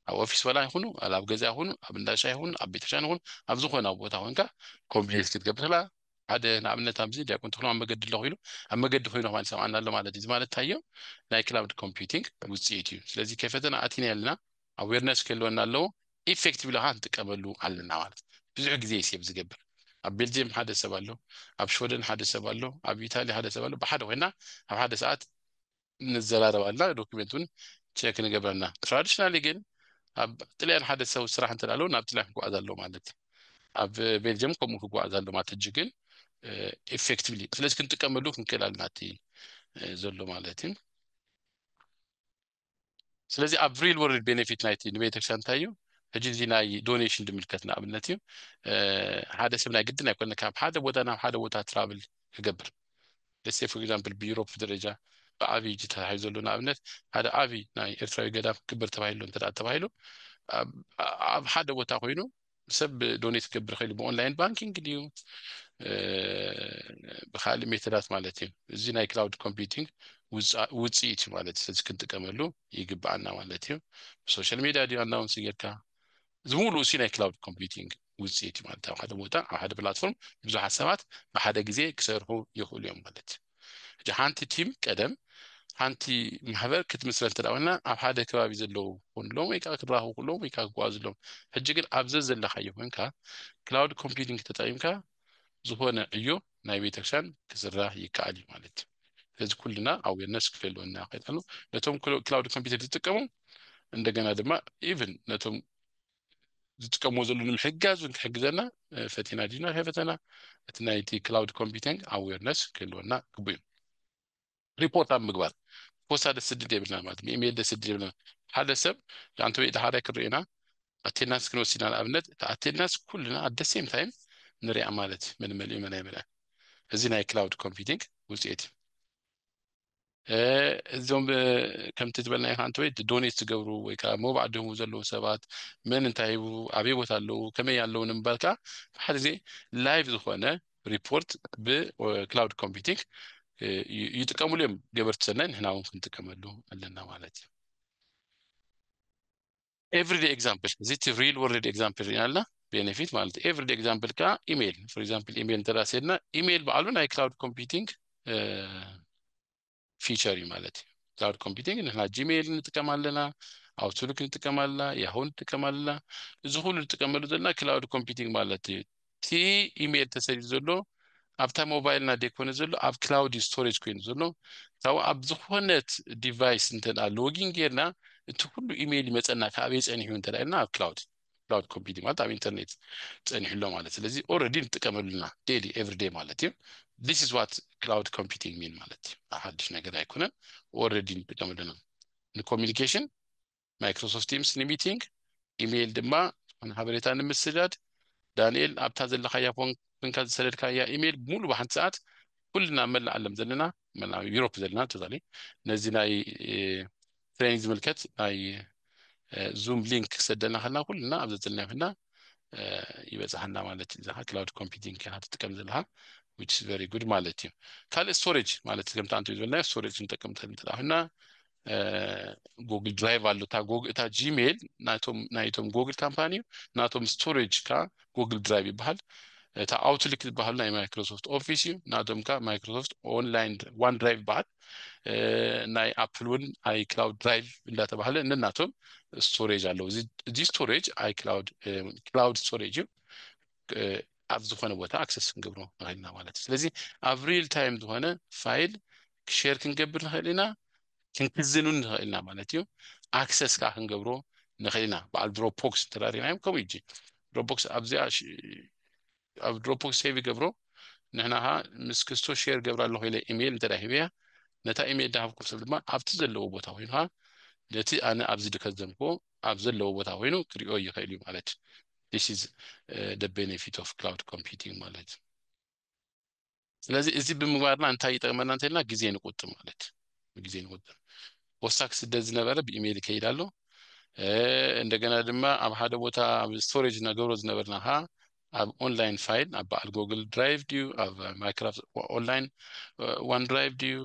ኣብ ኦፊስ ወላ ይኹኑ ኣብ ኣብ ገዛ ይኹኑ ኣብ እንዳ ሻሂ ይኹኑ ኣብ ቤተክርስትያን ይኹኑ ኣብ ዝኾነ ኣብ ቦታ ኮንካ ኮምፕሌት ክትገብር ከላ ሓደ ንኣብነት ኣብዚ ዲያቆን ተኽሉ ኣብ መገዲ ኣለኹ ኢሉ ኣብ መገዲ ኮይኑ ከማን ይሰምዓና ኣሎ ማለት እዩ እዚ ማለት እንታይ እዩ ናይ ክላውድ ኮምፒውቲንግ ውፅኢት እዩ ስለዚ ከይፈተና ኣቲና ኣለና ኣዌርነስ ክህልወና ኣለዎ ኢፌክቲቭ ለካ ንጥቀመሉ ኣለና ማለት ብዙሕ ግዜ ሴብ ዝገብር ኣብ ቤልጅየም ሓደ ሰብ ኣሎ ኣብ ሽወደን ሓደ ሰብ ኣሎ ኣብ ኢታሊ ሓደ ሰብ ኣሎ ብሓደ ኮይና ኣብ ሓደ ሰዓት ንዘራረብ ኣልና ዶክሜንት ውን ቸክ ንገብር ኣና ትራዲሽናሊ ግን ኣብ ጥልያን ሓደ ሰው ስራሕ እንተ ኣሎ ናብ ጥልያን ክጓዓዝ ኣሎ ማለት እዩ ኣብ ቤልጅየም ከምኡ ክጓዓዝ ኣሎ ማለት እጅ ግን ኢፌክቲቭሊ ስለዚ ክንጥቀመሉ ክንክእል ኣለና እቲ ዘሎ ማለት እዩ ስለዚ ኣብ ሪል ወርልድ ቤኔፊት ናይቲ ንቤተክርስትያን እንታይ እዩ ሕጂ እዚ ናይ ዶኔሽን ድምልከት ንኣብነት እዩ ሓደ ሰብ ናይ ግድን ኣይኮነ ካብ ሓደ ቦታ ናብ ሓደ ቦታ ትራብል ክገብር Let's say for example ብዩሮፕ ደረጃ ብዓብይ ተታሒዙ ዘሎ ንኣብነት ሓደ ዓብይ ናይ ኤርትራዊ ገዳም ክግበር ተባሂሉ እንተ ተባሂሉ ኣብ ሓደ ቦታ ኮይኑ ሰብ ዶኔት ክገብር ክእል ብኦንላይን ባንኪንግ ድዩ ብካልእ ሜተዳት ማለት እዩ እዚ ናይ ክላውድ ኮምፒቲንግ ውፅኢት እዩ ማለት ስለዚ ክንጥቀመሉ ይግብኣና ማለት እዩ ብሶሻል ሜድያ ድዩ ኣናውንስ ጌርካ ዝሙሉእ ሲ ናይ ክላውድ ኮምፒቲንግ ውፅኢት እዩ ማለት ኣብ ሓደ ቦታ ኣብ ሓደ ፕላትፎርም ብዙሓት ሰባት ብሓደ ግዜ ክሰርሑ ይኽእሉ እዮም ማለት እዩ ሕጂ ሓንቲ ቲም ቀደም ሓንቲ ማሕበር ክትምስረት እንተ ኮይና ኣብ ሓደ ከባቢ ዘለዉ ኮንሎም ወይ ከዓ ክራኸቡ ክሎም ወይ ከዓ ክጓዝሎም ሕጂ ግን ኣብ ዘዘለካዮ ኮንካ ክላውድ ኮምፒቲንግ ተጠቂምካ ዝኾነ ዕዮ ናይ ቤተክርስትያን ክስራሕ ይከኣል እዩ ማለት እዩ ስለዚ ኩልና ኣዌርነስ ክህልወና ይኽእል ኣሎ ነቶም ክላውድ ኮምፒውተር ዝጥቀሙ እንደገና ድማ ኢቭን ነቶም ዝጥቀምዎ ዘለዉ ንምሕጋዝ እውን ክሕግዘና ፈቲና ድዩና ከይፈተና እቲ ናይቲ ክላውድ ኮምፒቲንግ ኣዌርነስ ክህልወና ግቡእ እዩ ሪፖርት ኣብ ምግባር ፖስታ ደስድድ የብልና ማለት ብኢሜይል ደስድድ የብልና ሓደ ሰብ ኣንተ ወይ ደሃላይ ክንሪኦ ኢና ኣቴንዳንስ ክንወስድ ኢና ንኣብነት እቲ ኣቴንዳንስ ኩልና ኣት ደ ሴም ታይም ንሪኣ ማለት እዩ መን መሊኡ መን ኣይመልኣን እዚ ናይ ክላውድ ኮምፒቲንግ ውፅኢት እዩ እዞም ከምቲ ዝበልናዮ ከዓ እንተወይ ዶኔት ዝገብሩ ወይ ከዓ መባዕ ደሙ ዘለዉ ሰባት መን እንታይ ሂቡ ኣበይ ቦታ ኣለዉ ከመይ ኣለዉ ንምባል ከዓ ሓደ ግዜ ላይቭ ዝኾነ ሪፖርት ብክላውድ ኮምፒቲንግ ይጥቀምሉ እዮም ገበርቲ ሰናይ ንሕና እውን ክንጥቀመሉ ኣለና ማለት እዩ ኤቭሪዴ ኤግዛምፕል እዚ እቲ ሪል ወርልድ ኤግዛምፕል ሪና ኣለና ቤኔፊት ማለት እዩ ኤቭሪዴ ኤግዛምፕል ከዓ ኢሜይል ፎር ኤግዛምፕል ኢሜይል እንተዳ ስሄድና ኢሜይል በዓሉ ናይ ክላውድ ኮምፒቲንግ ፊቸር እዩ ማለት እዩ ክላውድ ኮምፒቲንግ ንሕና ጂሜይል ንጥቀም ኣለና ኣውትሉክ ንጥቀም ኣለና ያሁ ንጥቀም ኣለና እዚ ኩሉ ንጥቀመሉ ዘለና ክላውድ ኮምፒቲንግ ማለት እዩ እቲ ኢሜል ተሰዲዱ ዘሎ ኣብታ ሞባይልና ደይኮነ ዘሎ ኣብ ክላውድ ስቶሬጅ ኮይኑ ዘሎ ካብኡ ኣብ ዝኾነት ዲቫይስ እንተ ሎጊን ጌርና እቲ ኩሉ ኢሜል ይመጸና ካበይ ጸኒሑ እንተ ኢልና ኣብ ክላውድ ክላውድ ኮምፒውቲንግ ማለት ኣብ ኢንተርኔት ጸኒሑ ኣሎ ማለት ስለዚ ኦልሬዲ ንጥቀመሉ ኢና ዴይሊ ኤቭሪ ዴይ ማለት እዩ this is what cloud computing mean ማለት እዩ ሓድሽ ነገር ኣይኮነን ኦልሬዲ ንጥቀመሉ ኢና ንኮሚኒኬሽን ማይክሮሶፍት ቲምስ ንሚቲንግ፣ ኢሜይል ድማ ንሓበሬታ ንምስዳድ። ዳንኤል ኣብታ ዘለካያ ፎን ኮንካ ዝሰደድካያ ኢሜይል ሙሉ ብሓንቲ ሰዓት ኩልና ኣብ መላእ ዓለም ዘለና መላእ ዩሮፕ ዘለና ተዛሊ ነዚ ናይ ትሬኒንግ ዝምልከት ናይ ዙም ሊንክ ክሰደና ከና ኩልና ኣብ ዘዘለናዮ ከና ይበፅሓና ማለት እዩ እዛ ክላውድ ኮምፒቲንግ ከና ትጥቀም ዘለካ which is very good ማለት እዩ ካልእ ስቶሬጅ ማለት ከምቲ ኣንተ ዝበልናዮ ስቶሬጅ ንጠቀምታ እንተዳ ኮይና ጎግል ድራይቭ ኣሎ እታ ጎግ- እታ ጂሜል ናይቶም ናይቶም ጎግል ካምፓኒ እዩ ናቶም ስቶሬጅ ከዓ ጎግል ድራይቭ ይበሃል እታ ኣውትሊክ ዝበሃሉ ናይ ማይክሮሶፍት ኦፊስ እዩ ናቶም ከዓ ማይክሮሶፍት ኦንላይን ዋን ድራይቭ ይበሃል እ፣ ናይ ኣፕል እውን ኣይ ክላውድ ድራይቭ እንዳተባሃለ ነናቶም ስቶሬጅ ኣለዉ እዚ- እዚ ስቶሬጅ ኣይ ክላውድ ክላውድ ስቶሬጅ እዩ ኣብ ዝኾነ ቦታ ኣክሰስ ክንገብሮ ንኽእል ኢና ማለት እዩ ስለዚ ኣብ ሪል ታይም ዝኾነ ፋይል ሼር ክንገብር ንኽእል ኢና ክንክዝን እውን ንኽእል ኢና ማለት እዩ ኣክሰስ ከዓ ክንገብሮ ንኽእል ኢና በዓል ድሮፖክስ እንተዳሪናዮም ከምኡ እጂ ድሮፖክስ ኣብዚኣ ኣብ ድሮፖክስ ሴቭ ይገብሮ ንሕና ከዓ ምስ ክስቶ ሼር ገብራ ኣለኹ ኢለ ኢሜይል እንተ ሂበያ ነታ ኢሜይል ዳሃብኩም ሰብ ድማ ኣብቲ ዘለዎ ቦታ ኮይኑ ከዓ ነቲ ኣነ ኣብዚ ድከዘምክዎ ኣብ ዘለዎ ቦታ ኮይኑ ክሪኦ ይኽእል እዩ ማለት እዩ this is the benefit of cloud computing ማለት እዩ ስለዚ እዚ ብምግባርና እንታይ ይጠቅመና እንተልና ግዜ ንቁጥብ ማለት ግዜ ንቁጥብ ወሳክ ስደት ዝነበረ ብኢሜይል ይከይድ ኣሎ እንደገና ድማ ኣብ ሓደ ቦታ ኣብ ስቶሬጅ ነገሮ ዝነበርና ከዓ ኣብ ኦንላይን ፋይል ኣብ በዓል ጎግል ድራይቭ ድዩ ኣብ ማይክራፍት ኦንላይን ዋን ድራይቭ ድዩ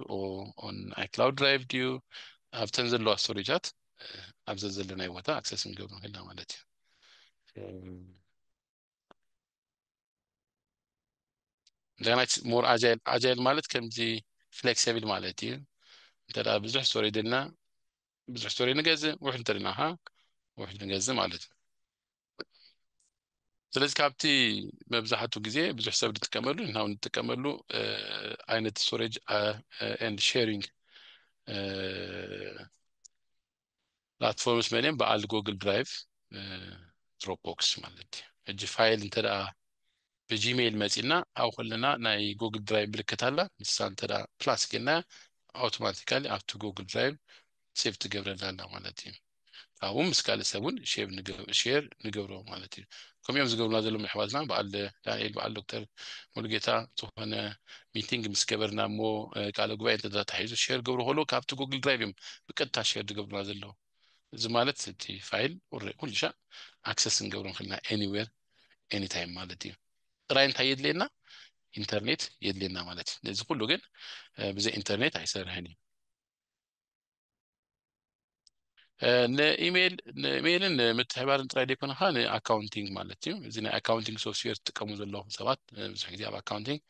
ኦን ኣይክላውድ ድራይቭ ድዩ ኣብተን ዘለዋ ስቶሬጃት ኣብ ዘዘለናይ ቦታ ኣክሰስ ንገብሩ ክልና ማለት እዩ እንደገና ሞር ኣጃይል ኣጃይል ማለት ከምዚ ፍሌክሲብል ማለት እዩ እንተ ብዙሕ ስቶሪ ድልና ብዙሕ ስቶሪ ንገዝእ ውሕድ እንተድና ካ ውሕድ ንገዝእ ማለት እዩ ስለዚ ካብቲ መብዛሕቱ ግዜ ብዙሕ ሰብ ዝጥቀመሉ ንና ንጥቀመሉ ዓይነት ስቶሬጅ ኤንድ ሼሪንግ ፕላትፎርምስ መሊኦም በዓል ጎግል ድራይቭ ድሮፕቦክስ ማለት እዩ ሕጂ ፋይል እንተ ብጂሜይል መጺና ኣብ ከለና ናይ ጎግል ድራይቭ ምልክት ኣላ ንሳ እንተ ፕላስ ጌርናያ ኣውቶማቲካሊ ኣብቲ ጎግል ድራይቭ ሴቭ ትገብረልና ኣላ ማለት እዩ ካብኡ ምስ ካልእ ሰብ እውን ሼር ንገብሮ ማለት እዩ ከምኡ እዮም ዝገብሩና ዘለዉ ኣሕዋትና በዓል ዳንኤል በዓል ዶክተር ሙሉጌታ ዝኾነ ሚቲንግ ምስ ገበርና እሞ ቃለ ጉባኤ እንተ ተታሒዙ ሼር ገብሩ ከሎ ካብቲ ጉግል ድራይቭ እዮም ብቀጥታ ሼር ዝገብሩና ዘለዉ እዚ ማለት እቲ ፋይል ኩሉ ሻዕ ኣክሰስ ክንገብሮ ንኽእል ኢና ኤኒዌር ኤኒታይም ማለት እዩ ጥራይ እንታይ የድልየና ኢንተርኔት የድልየና ማለት እዩ ነዚ ኩሉ ግን ብዘይ ኢንተርኔት ኣይሰርሕን እዩ ንኢሜይል ንኢሜይልን ንምትሕባርን ጥራይ ዘይኮነ ከዓ ንኣካውንቲንግ ማለት እዩ እዚ ናይ ኣካውንቲንግ ሶፍትዌር ትጥቀሙ ዘለኹም ሰባት ብዙሕ ግዜ ኣብ ኣካውንቲንግ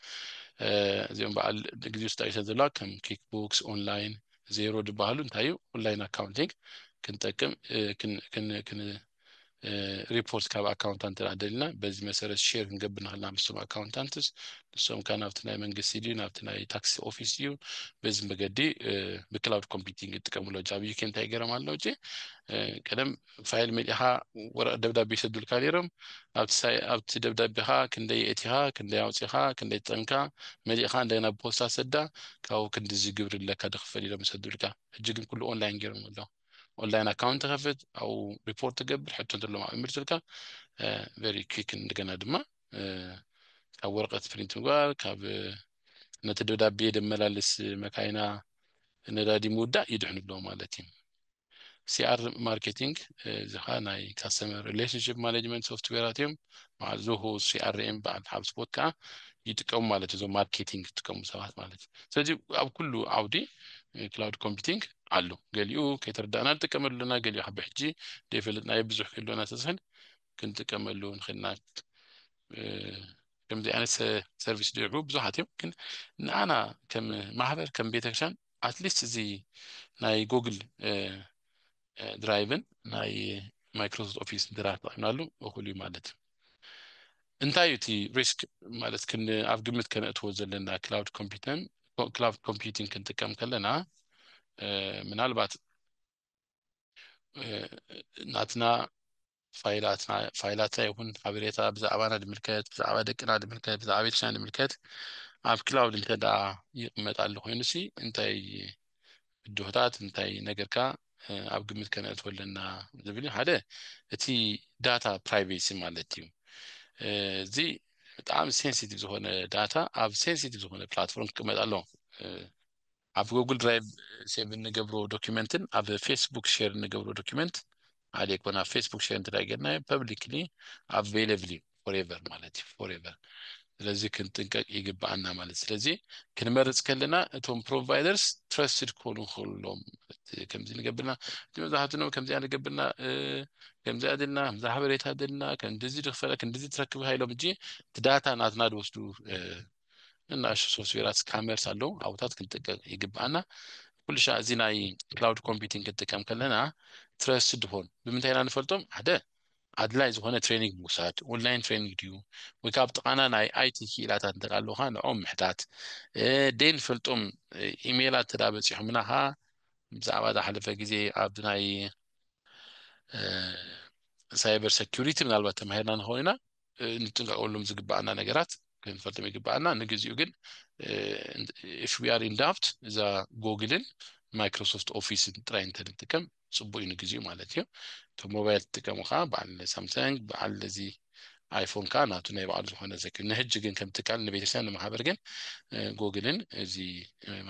እዚኦም በዓል ግዜ ውስጥ ኣይሰ ዘለዋ ከም ኪክ ቡክስ ኦንላይን ዜሮ ዝበሃሉ እንታይ እዩ ኦንላይን ኣካውንቲንግ ክንጠቅም ሪፖርት ካብ ኣካውንታንት እንተ ደሊና በዚ መሰረት ሼር ክንገብር ንኽእል ኢና ምስቶም ኣካውንታንትስ ንሶም ከዓ ናብቲ ናይ መንግስቲ ድዩ ናብቲ ናይ ታክሲ ኦፊስ ድዩ በዚ መገዲ ብክላውድ ኮምፒቲንግ ይጥቀምሉ ጃብ ዩኬ እንታይ ገረም ኣሎ እ ቀደም ፋይል መሊእኻ ወረቀት ደብዳቤ ይሰዱልካ ነይሮም ኣብቲ ደብዳቤኻ ክንደይ የእቲኻ ክንደይ ኣውፂኻ ክንደይ ጠንካ መሊእኻ እንደገና ብፖስታ ሰዳ ካብኡ ክንዲዚ ግብሪ ኣለካ ድክፈል ኢሎም ይሰዱልካ ሕጂ ግን ኩሉ ኦንላይን ገይሮም ኣለዉ ኦንላይን ኣካውንት ትኸፍት ኣብኡ ሪፖርት ትገብር ሕቶ እንተለዎም ኣብኡ ይምልሱልካ ቨሪ ኩክ እንደገና ድማ ካብ ወረቀት ፕሪንት ምግባር ካብ ነቲ ደብዳቤ ደመላልስ መካይና ነዳዲ ምውዳእ ይድሕኑ ኣለዎ ማለት እዩ ሲኣር ማርኬቲንግ እዚ ከዓ ናይ ካስተመር ሪሌሽንሽፕ ማኔጅመንት ሶፍትዌራት እዮም በዓል ዞሆ ሲኣርኤም በዓል ሃብስፖት ከዓ ይጥቀሙ ማለት እዞም ማርኬቲንግ ዝጥቀሙ ሰባት ማለት እዩ ስለዚ ኣብ ኩሉ ዓውዲ ክላውድ ኮምፒቲንግ ኣሎ ገሊኡ ከይተረዳእና ንጥቀመሉ ኣለና ገሊኡ ካብ ብሕጂ ዘይፈለጥናዮ ብዙሕ ክህሉ እናተዝህን ክንጥቀመሉ ንኽእል ኢና ከምዚ ዓይነት ሰርቪስ ድርቡ ብዙሓት እዮም ግን ንኣና ከም ማህበር ከም ቤተክርስትያን ኣትሊስት እዚ ናይ ጉግል ድራይቭን ናይ ማይክሮሶፍት ኦፊስ ድራይቭ ተጠቂምናሉ እኹል እዩ ማለት እዩ እንታይ እዩ እቲ ሪስክ ማለት ክን ኣብ ግምት ከነእትዎ ዘለና ክላውድ ኮምፒተን ክላውድ ኮምፒቲንግ ክንጥቀም ከለና ምናልባት ናትና ፋይላትና ፋይላታ ይኹን ሓበሬታ ብዛዕባና ድምልከት ብዛዕባ ደቅና ድምልከት ብዛዕባ ቤተክርስትያን ድምልከት ኣብ ክላውድ እንተ ይቕመጥ ኣሎ ኮይኑ ሲ እንታይ ብድሆታት እንታይ ነገርካ ኣብ ግምት ከነእትወ ኣለና ዝብል እዩ ሓደ እቲ ዳታ ፕራይቬሲ ማለት እዩ እዚ ብጣዕሚ ሴንሲቲቭ ዝኾነ ዳታ ኣብ ሴንሲቲቭ ዝኾነ ፕላትፎርም ክቅመጥ ኣለዎ ኣብ ጉግል ድራይቭ ሴቭ እንገብሮ ዶኪመንትን ኣብ ፌስቡክ ሼር እንገብሮ ዶኪመንት ዓሌ ኮን ኣብ ፌስቡክ ሼር እንተድኣ ጌርናዮ ፐብሊክሊ ኣቬይለብል እዩ ፎሬቨር ማለት እዩ ፎሬቨር ስለዚ ክንጥንቀቅ ይግብኣና ማለት ስለዚ ክንመርፅ ከለና እቶም ፕሮቫይደርስ ትረስትድ ክኾኑ ከሎም ከምዚ ንገብርና እቲ መብዛሕትኡ ከምዚኣ ንገብርና ከምዚኣ ድልና ከምዚ ሓበሬታ ድልና ከምዚ ድክፈለ ክንዲዚ ትረክብ ሃይሎም እጂ እቲ ዳታ ናትና ድወስዱ ንናእሽቱ ሶፍትዌራት ስካመርስ ኣለዉ ኣብታት ክንጥቀቅ ይግብኣና ኩሉ ሻዕ እዚ ናይ ክላውድ ኮምፒቲንግ ክንጥቀም ከለና ትረስት ድኾን ብምንታይ ኢና ንፈልጦም ሓደ ኣድላይ ዝኾነ ትሬኒንግ ምውሳድ ኦንላይን ትሬኒንግ ድዩ ወይ ካብ ጥቓና ናይ ኣይቲ ክኢላታት እንተ ኣለውካ ንኦም ምሕታት ደይ ንፈልጦም ኢሜይላት ተዳ በፂሖምና ኸዓ ብዛዕባ ዝሓለፈ ግዜ ኣብ ናይ ሳይበር ሰኪሪቲ ምናልባት ተማሂርና ንኸውን ኢና እንጥንቀቀሎም ዝግባኣና ነገራት ክንፈልጥም ይግባኣና ንግዚኡ ግን ኢፍ ዊ ኣር ኢን ዳብት እዛ ጎግልን ማይክሮሶፍት ኦፊስን ጥራይ እንተንጥቀም ፅቡቅ እዩ ንግዚኡ ማለት እዩ እቶም ሞባይል ትጥቀሙ ከዓ በዓል ሳምሰንግ በዓል እዚ ኣይፎን ከዓ ናቱ ናይ በዓሉ ዝኮነ ዘክ ንሕጂ ግን ከም ትካል ንቤተክርስትያን ንማሕበር ግን ጎግልን እዚ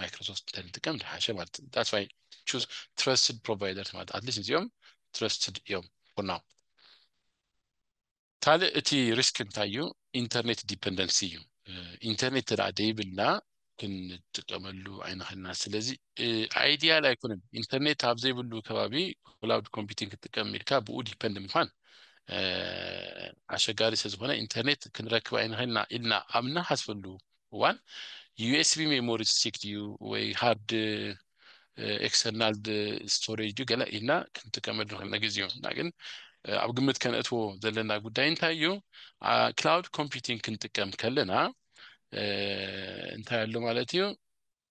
ማይክሮሶፍት እንተንጥቀም ዝሓሸ ማለት ዳትስ ዋይ ቹዝ ትረስትድ ፕሮቫይደርስ ማለት ኣትሊስት እዚኦም ትረስትድ እዮም ፎር ናው ካልእ እቲ ሪስክ እንታይ እዩ ኢንተርኔት ዲፐንደንሲ እዩ ኢንተርኔት እንተ ዘይብልና ክንጥቀመሉ ኣይንኽእልና ስለዚ ኣይዲያል ኣይኮነን ኢንተርኔት ኣብ ዘይብሉ ከባቢ ክላውድ ኮምፒቲንግ ክትጥቀም ኢልካ ብኡ ዲፐንድ ምኳን ኣሸጋሪ ስለዝኾነ ኢንተርኔት ክንረክብ ኣይንኽእልና ኢልና ኣብ ንሓስበሉ እዋን ዩኤስቢ ሜሞሪ ስቲክ ድዩ ወይ ሃርድ ኤክስተርናል ስቶሬጅ ድዩ ገለ ኢልና ክንጥቀመሉ ንኽእል ነግዚኡ እና ግን ኣብ ግምት ከነእትዎ ዘለና ጉዳይ እንታይ እዩ ክላውድ ኮምፒቲንግ ክንጥቀም ከለና እንታይ ኣሎ ማለት እዩ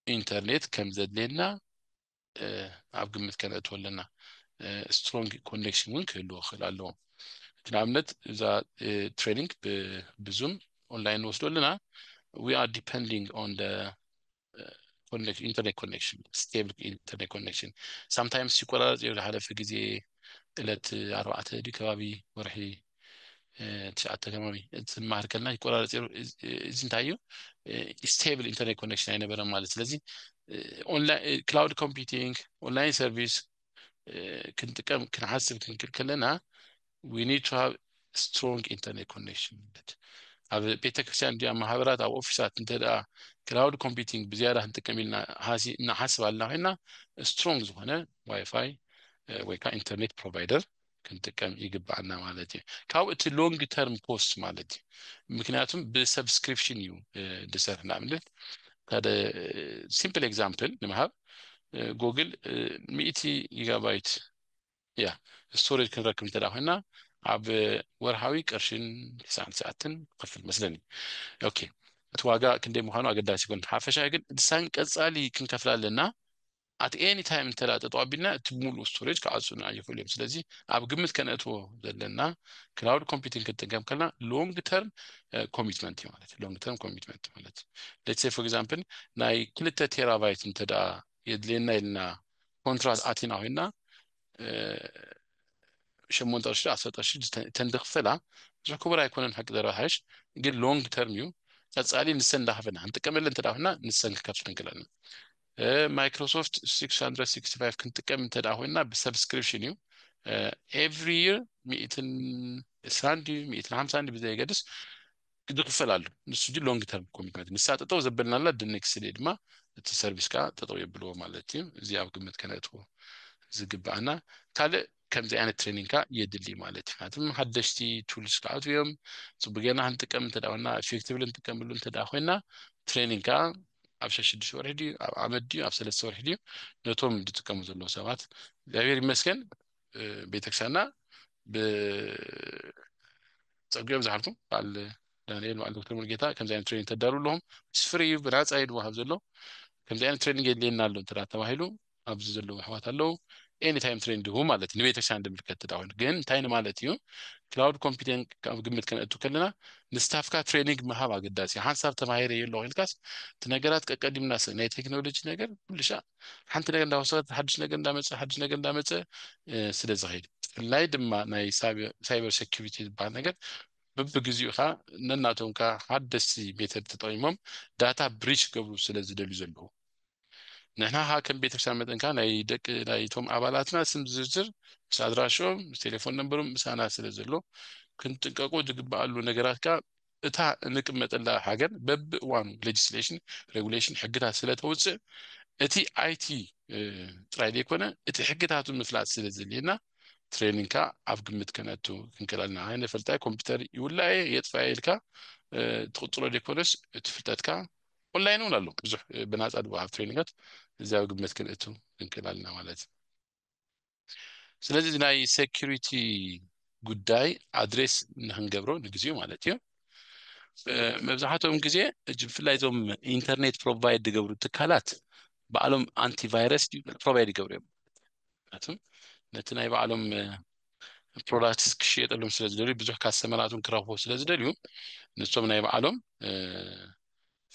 ኢንተርኔት ከም ዘድልየና ኣብ ግምት ከነእትዎ ኣለና። ስትሮንግ ኮኔክሽን እውን ክህልዎ ክኽእል ኣለዎ። እቲ ንኣብነት እዛ ትሬኒንግ ብዙም ኦንላይን ንወስዶ ኣለና ዊ ኣር ዲፐንዲንግ ኦን ኢንተርኔት ኮኔክሽን ስቴብል ኢንተርኔት ኮኔክሽን ሳምታይምስ ይቆራረፅ እዩ ዝሓለፈ ግዜ እለት ኣርባዕተ ድዩ ከባቢ ወርሒ ትሽዓተ ከባቢ ዝመሃር ከለና ይቆራረፅ ሩ እዚ እንታይ እዩ ስቴብል ኢንተርኔት ኮኔክሽን ኣይነበረን ማለት ስለዚ ክላውድ ኮምፒቲንግ ኦንላይን ሰርቪስ ክንጥቀም ክንሓስብ ክንክል ከለና ዊ ኒድ ቱ ሃቭ ስትሮንግ ኢንተርኔት ኮኔክሽን ማለት ኣብ ቤተክርስትያን እንዲያ ማህበራት ኣብ ኦፊሳት እንተ ክላውድ ኮምፒቲንግ ብዝያዳ ክንጥቀም ኢልና እናሓስብ ኣለና ኮይና ስትሮንግ ዝኾነ ዋይፋይ ወይ ከዓ ኢንተርኔት ፕሮቫይደር ክንጥቀም ይግባኣና ማለት እዩ ካብኡ እቲ ሎንግ ተርም ኮስት ማለት እዩ ምክንያቱም ብሰብስክሪፕሽን እዩ ድሰርሕ ንኣብነት ሓደ ሲምፕል ኤግዛምፕል ንምሃብ ጎግል ሚእቲ ጊጋባይት እያ ስቶሬጅ ክንረክብ እንተ ኮይና ኣብ ወርሃዊ ቅርሽን ትስዓን ትስዓትን ክፍል መስለኒ ኦኬ እቲ ዋጋ ክንደይ ምዃኑ ኣገዳሲ ይኮን ሓፈሻ ግን ድሳን ቀፃሊ ክንከፍላ ኣለና at any time እንተድኣ ጠጠው ኣቢልና እቲ ሙሉእ ስቶሬጅ ክዓፁልና ይኽእሉ እዮም ስለዚ ኣብ ግምት ከነእትዎ ዘለና ክላውድ ኮምፒቲንግ ክንጥቀም ከለና ሎንግ ተርም ኮሚትመንት እዩ ማለት እዩ ሎንግ ተርም ኮሚትመንት ማለት ሌትስ ሴይ ፎር ኤግዛምፕል ናይ ክልተ ቴራባይት እንተድኣ የድልየና ኢልና ኮንትራት ኣቲና ኮይና ሸሞንተ ቅርሺ ዓሰርተ ቅርሺ ተንድክፈላ ብዙሕ ክቡር ኣይኮነን ሓቂ ዘረባሓሽ ግን ሎንግ ተርም እዩ ቀፃሊ ንሰን እንዳኸፈና ክንጥቀመለን እንተድኣ ኮይና ንሰን ክከፍለን ክእለና ማይክሮሶፍት ሲክስ ሃንድረድ ሲክስቲ ፋይቭ ክንጥቀም እንተ ደኣ ኮይንና ብሰብስክሪፕሽን እዩ ኤቭሪ ይር ሚእትን እስራን ድዩ ሚእትን ሓምሳን ድዩ ብዘየገድስ ዝኽፈል ኣሎ ንሱ ጂ ሎንግ ተርም ኮሚትመንት ንሳ ጠጠው ዘበልናላ ድኔክስ ዴይ ድማ እቲ ሰርቪስ ከዓ ጠጠው የብልዎ ማለት እዩ እዚ ኣብ ግምት ከነእትዎ ዝግባኣና ካልእ ከምዚ ዓይነት ትሬኒንግ ከዓ የድሊ ማለት እዩ ምክንያቱም ሓደሽቲ ቱልስ ክኣትው እዮም ፅቡቅ ጌርና ክንጥቀም እንተ ኮይና ኤፌክቲቭሊ ንጥቀምሉ እንተ ኮይና ትሬኒንግ ከዓ ኣብ ሸሽዱሽተ ወርሒ ድዩ ኣብ ዓመት ድዩ ኣብ ሰለስተ ወርሒ ድዩ ነቶም ዝጥቀሙ ዘለዉ ሰባት እግዚኣብሔር ይመስገን ቤተክርስቲያንና ብፀጉኦም ዝሓልኩም በዓል ዳንኤል በዓል ዶክተር ሙልጌታ ከምዚ ዓይነት ትሬኒንግ ተዳሉ ኣለኹም ምስ ፍሪ እዩ ብናፃ እዩ ዝወሃብ ዘሎ ከምዚ ዓይነት ትሬኒንግ የድልየና ኣሎ እንተ ተባሂሉ ኣብዚ ዘለዉ ኣሕዋት ኣለዉ ኤኒ ታይም ትሬን ድሁ ማለት እዩ ንቤተክርስቲያን ድምልከት ተዳውን ግን እንታይ ንማለት እዩ ክላውድ ኮምፒተን ኣብ ግምት ከነእቱ ከለና ንስታፍካ ትሬኒንግ ምሃብ ኣገዳሲ እዩ ሓንሳብ ተማሂረ የሎ ኢልካስ እቲ ነገራት ቀቀዲምና ስ ናይ ቴክኖሎጂ ነገር ኩልሻ ሓንቲ ነገር እንዳወሰኸት ሓድሽ ነገር እንዳመፀ ሓድሽ ነገር እንዳመፀ ስለ ዝኸይድ ብፍላይ ድማ ናይ ሳይበር ሴኪሪቲ ዝበሃል ነገር ብብግዚኡ ከዓ ነናቶም ከዓ ሓደስቲ ሜተድ ተጠቂሞም ዳታ ብሪች ገብሩ ስለ ዝደልዩ ዘለዉ ንሕና ከኣ ከም ቤተክርስትያን መጠን ከኣ ናይ ደቂ ናይቶም ኣባላትና ስም ዝርዝር ምስ ኣድራሽኦም ምስ ቴሌፎን ነምበሮም ምሳና ስለ ዘሎ ክንጥንቀቆ ዝግበኣሉ ነገራት ከኣ እታ እንቅመጠላ ሃገር በብእዋኑ ሌጅስሌሽን ሬጉሌሽን ሕግታት ስለ ተውጽእ እቲ ኣይቲ ጥራይ ዘይኮነ እቲ ሕግታቱ ምፍላጥ ስለ ዘድልየና ትሬኒንግ ከኣ ኣብ ግምት ከነእቱ ክንክእል ኣለና ኣይነ ፈልጣይ ኮምፒውተር ይውላየ የጥፋየ ኢልካ ትቕጽሎ ዘይኮነስ እቲ ፍልጠትካ ኦንላይን እውን ኣሎ ብዙሕ ብናፃ ዝወሃብ ትሬኒንጋት እዚኣብ ግምት ክንእቱ ንክእል ኣለና ማለት እዩ ስለዚ እዚ ናይ ሴኪሪቲ ጉዳይ ኣድሬስ ንክንገብሮ ንግዜኡ ማለት እዩ መብዛሕትኦም ግዜ እጅ ብፍላይ እዞም ኢንተርኔት ፕሮቫይድ ዝገብሩ ትካላት ባዕሎም ኣንቲቫይረስ ፕሮቫይድ ይገብሩ እዮም ነቲ ናይ ባዕሎም ፕሮዳክትስ ክሽየጠሎም ስለ ዝደልዩ ብዙሕ ካስተመራትን ክረኽቡ ስለ ዝደልዩ ንሶም ናይ ባዕሎም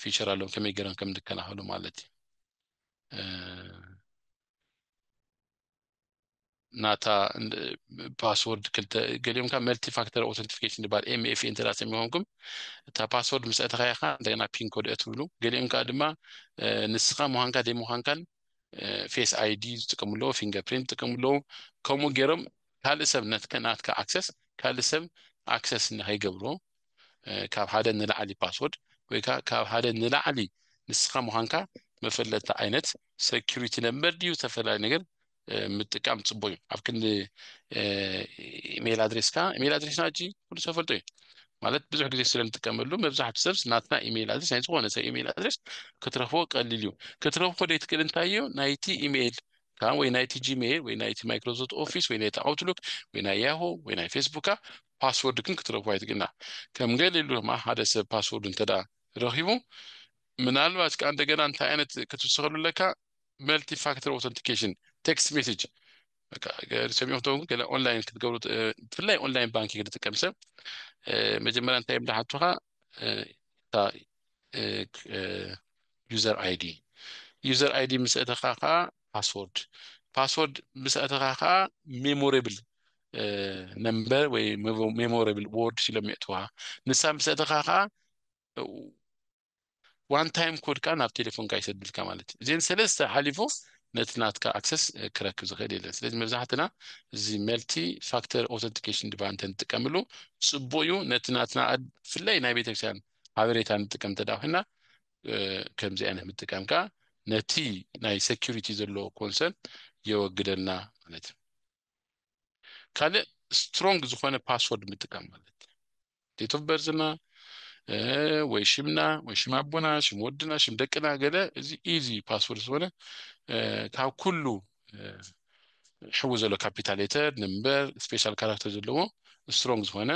ፊቸር ኣሎም ከመይ ገይሮም ከም ዝከላኸሉ ማለት እዩ ናታ ፓስወርድ ክልተ ገሊኦም ካብ መልቲ ፋክተር ኦተንቲፊኬሽን ዝበሃል ኤምኤፍ እንተ ሰሚኾንኩም እታ ፓስወርድ ምስ ኣተኸያኻ እንደገና ፒን ኮድ እትብሉ ገሊኦም ከዓ ድማ ንስኻ ምዃንካ ዘይምዃንካን ፌስ ኣይዲ ዝጥቀሙ ኣለዉ ፊንገር ፕሪንት ዝጥቀሙ ኣለዉ ከምኡ ገይሮም ካልእ ሰብ ናትካ ኣክሰስ ካልእ ሰብ ኣክሰስ ንከይገብሮ ካብ ሓደ ንላዕሊ ፓስወርድ ወይ ከዓ ካብ ሓደ ንላዕሊ ንስኻ ምዃንካ መፈለጥቲ ዓይነት ሴኪሪቲ ነምበር ድዩ ዝተፈላለዩ ነገር ምጥቃም ፅቡቅ እዩ ኣብ ክንዲ ኢሜይል ኣድሬስካ ኢሜይል ኣድሬስና እጂ ኩሉ ሰብ ፈልጦ እዩ ማለት ብዙሕ ግዜ ስለ ንጥቀመሉ መብዛሕትኡ ሰብ ናትና ኢሜይል ኣድሬስ ናይ ዝኾነ ሰብ ኢሜይል ኣድሬስ ክትረኽቦ ቀሊል እዩ ክትረኽቦ ደይትክእል እንታይ እዩ ናይቲ ኢሜይል ካብ ወይ ናይቲ ጂሜይል ወይ ናይቲ ማይክሮሶፍት ኦፊስ ወይ ናይቲ ኣውትሉክ ወይ ናይ ያሆ ወይ ናይ ፌስቡካ ፓስወርድ ግን ክትረኽቦ ኣይትግና ከም ገሊሉ ድማ ሓደ ሰብ ፓስወርድ እንተ ረኺቡ ምናልባት ከዓ እንደገና እንታይ ዓይነት ክትውስኸሉ ኣለካ መልቲ ፋክተር ኦተንቲኬሽን ቴክስት ሜሴጅ ሰሚዑ ክትከውን ገለ ኦንላይን ክትገብሩ ብፍላይ ኦንላይን ባንኪንግ ዝጥቀም ሰብ መጀመርያ እንታይ እዮም ዝሓቱኻ እታ ዩዘር ኣይዲ ዩዘር ኣይዲ ምስ ኣተኻ ከዓ ፓስወርድ ፓስወርድ ምስ ኣተኻ ከዓ ሜሞሬብል ነምበር ወይ ሜሞሬብል ወርድ ኢሎም የእትዋ ንሳ ምስ ኣተኻ ከዓ ዋን ታይም ኮድ ከኣ ናብ ቴሌፎንካ ይሰደልካ ማለት እዩ እዚኤን ሰለስተ ሓሊፉ ነቲ ናትካ ኣክሰስ ክረክብ ዝኽእል የለን ስለዚ መብዛሕትና እዚ መልቲ ፋክተር ኦተንቲኬሽን ድባ እንተ ንጥቀምሉ ጽቡቅ እዩ ነቲ ናትና ብፍላይ ናይ ቤተክርስትያን ሓበሬታ ንጥቀም እንተ ኮይና ከምዚ ዓይነት ምጥቃም ከኣ ነቲ ናይ ሰኪሪቲ ዘሎ ኮንሰርን የወግደልና ማለት እዩ ካልእ ስትሮንግ ዝኾነ ፓስወርድ ምጥቃም ማለት ዴት ኦፍ በርዝና ወይ ሽምና ወይ ሽም ኣቦና ሽም ወድና ሽም ደቅና ገለ እዚ ኢዚ ፓስወርድ ዝኾነ ካብ ኩሉ ሕዊ ዘሎ ካፒታል ሌተር ነምበር ስፔሻል ካራክተር ዘለዎ ስትሮንግ ዝኾነ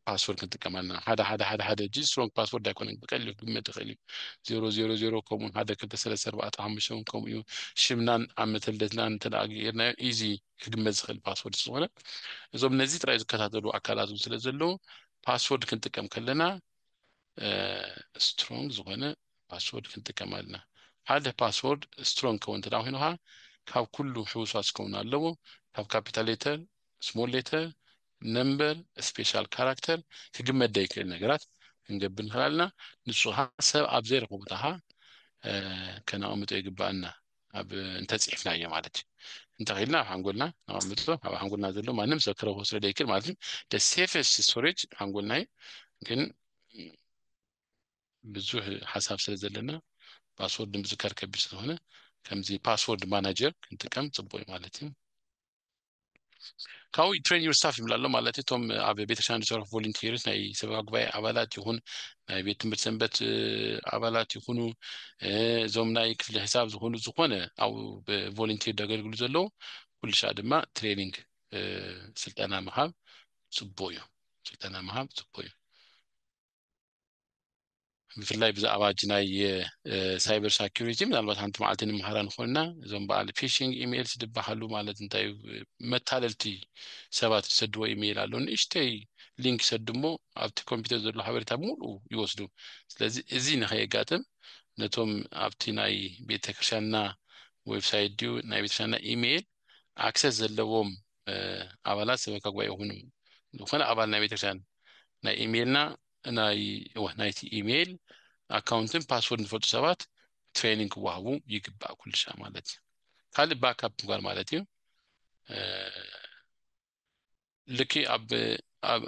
ፓስወርድ ክንጥቀም ኣለና ሓደ ሓደ ሓደ ሓደ እጂ ስትሮንግ ፓስወርድ ኣይኮነን ብቀሊሉ ክግመት ይኽእል እዩ ዜሮ ዜሮ ዜሮ ከምኡ ሓደ ክልተ ሰለስተ ኣርባዕተ ሓሙሽተ እውን ከምኡ እዩ ሽምናን ዓመተ ልደትናን እንተ ገይርናዮ ኢዚ ክግመት ዝኽእል ፓስወርድ ስለዝኾነ እዞም ነዚ ጥራይ ዝከታተሉ ኣካላት እውን ስለ ዘለዉ ፓስወርድ ክንጥቀም ከለና ስትሮንግ ዝኾነ ፓስወርድ ክንጥቀም ኣለና ሓደ ፓስወርድ ስትሮንግ ከውን እንተ ኮይኑኻ ካብ ኩሉ ሕውሷት ክኸውን ኣለዎ ካብ ካፒታል ሌተር ስሞል ሌተር ነምበር ስፔሻል ካራክተር ክግመት ዘይክእል ነገራት ክንገብር ንኽእል ኣለና ንፁሃ ሰብ ኣብ ዘይረኽቦ ቦታ ኸዓ ከነቐምጦ ይግባኣና ኣብ እንተፅሒፍናዮ ማለት እዩ እንተኺልና ኣብ ሓንጎልና ነቐምጦ ኣብ ሓንጎልና ዘሎ ማንም ሰብ ክረኽቦ ስለ ዘይክእል ማለት እዩ ደ ሴፈስት ስቶሬጅ ሓንጎልና እዩ ግን ብዙሕ ሓሳብ ስለ ዘለና ፓስወርድ ምዝካር ከቢድ ስለሆነ ከምዚ ፓስወርድ ማናጀር ክንጥቀም ፅቡቅ እዩ ማለት እዩ ካብኡ ትሬን ዩር ስታፍ ይብላ ኣሎ ማለት እቶም ኣብ ቤተክርስትያን ዝሰርሑ ቮለንቲርስ ናይ ሰበባ ጉባኤ ኣባላት ይኹን ናይ ቤት ትምህርቲ ሰንበት ኣባላት ይኹኑ እዞም ናይ ክፍሊ ሕሳብ ዝኾኑ ዝኾነ ኣብ ቮለንቲር ዘገልግሉ ዘለዉ ኩሉ ሻ ድማ ትሬኒንግ ስልጠና ምሃብ ፅቡቅ እዩ ስልጠና ምሃብ ፅቡቅ እዩ ብፍላይ ብዛዕባ እጅ ናይ ሳይበር ሳኪሪቲ ምናልባት ሓንቲ መዓልቲ ንምሃራ ንኽእል ኢና እዞም በዓል ፊሽንግ ኢሜይልስ ዝበሃሉ ማለት እንታይ እዩ መታለልቲ ሰባት ዝሰድዎ ኢሜይል ኣሎ ንእሽተይ ሊንክ ይሰዱ እሞ ኣብቲ ኮምፒውተር ዘሎ ሓበሬታ ሙሉ ይወስዱ ስለዚ እዚ ንኸየጋጥም ነቶም ኣብቲ ናይ ቤተክርስትያንና ዌብሳይት ድዩ ናይ ቤተክርስትያንና ኢሜይል ኣክሰስ ዘለዎም ኣባላት ሰበካ ጉባኤ ይኹኑ ዝኾነ ኣባል ናይ ቤተክርስትያን ናይ ኢሜይልና ናይ እወ ናይቲ ኢሜይል ኣካውንትን ፓስወርድ ንፈልጡ ሰባት ትሬኒንግ ክዋሃቡ ይግባእ ኩልሻ ማለት እዩ ካልእ ባካፕ ምግባር ማለት እዩ ልክ ኣብ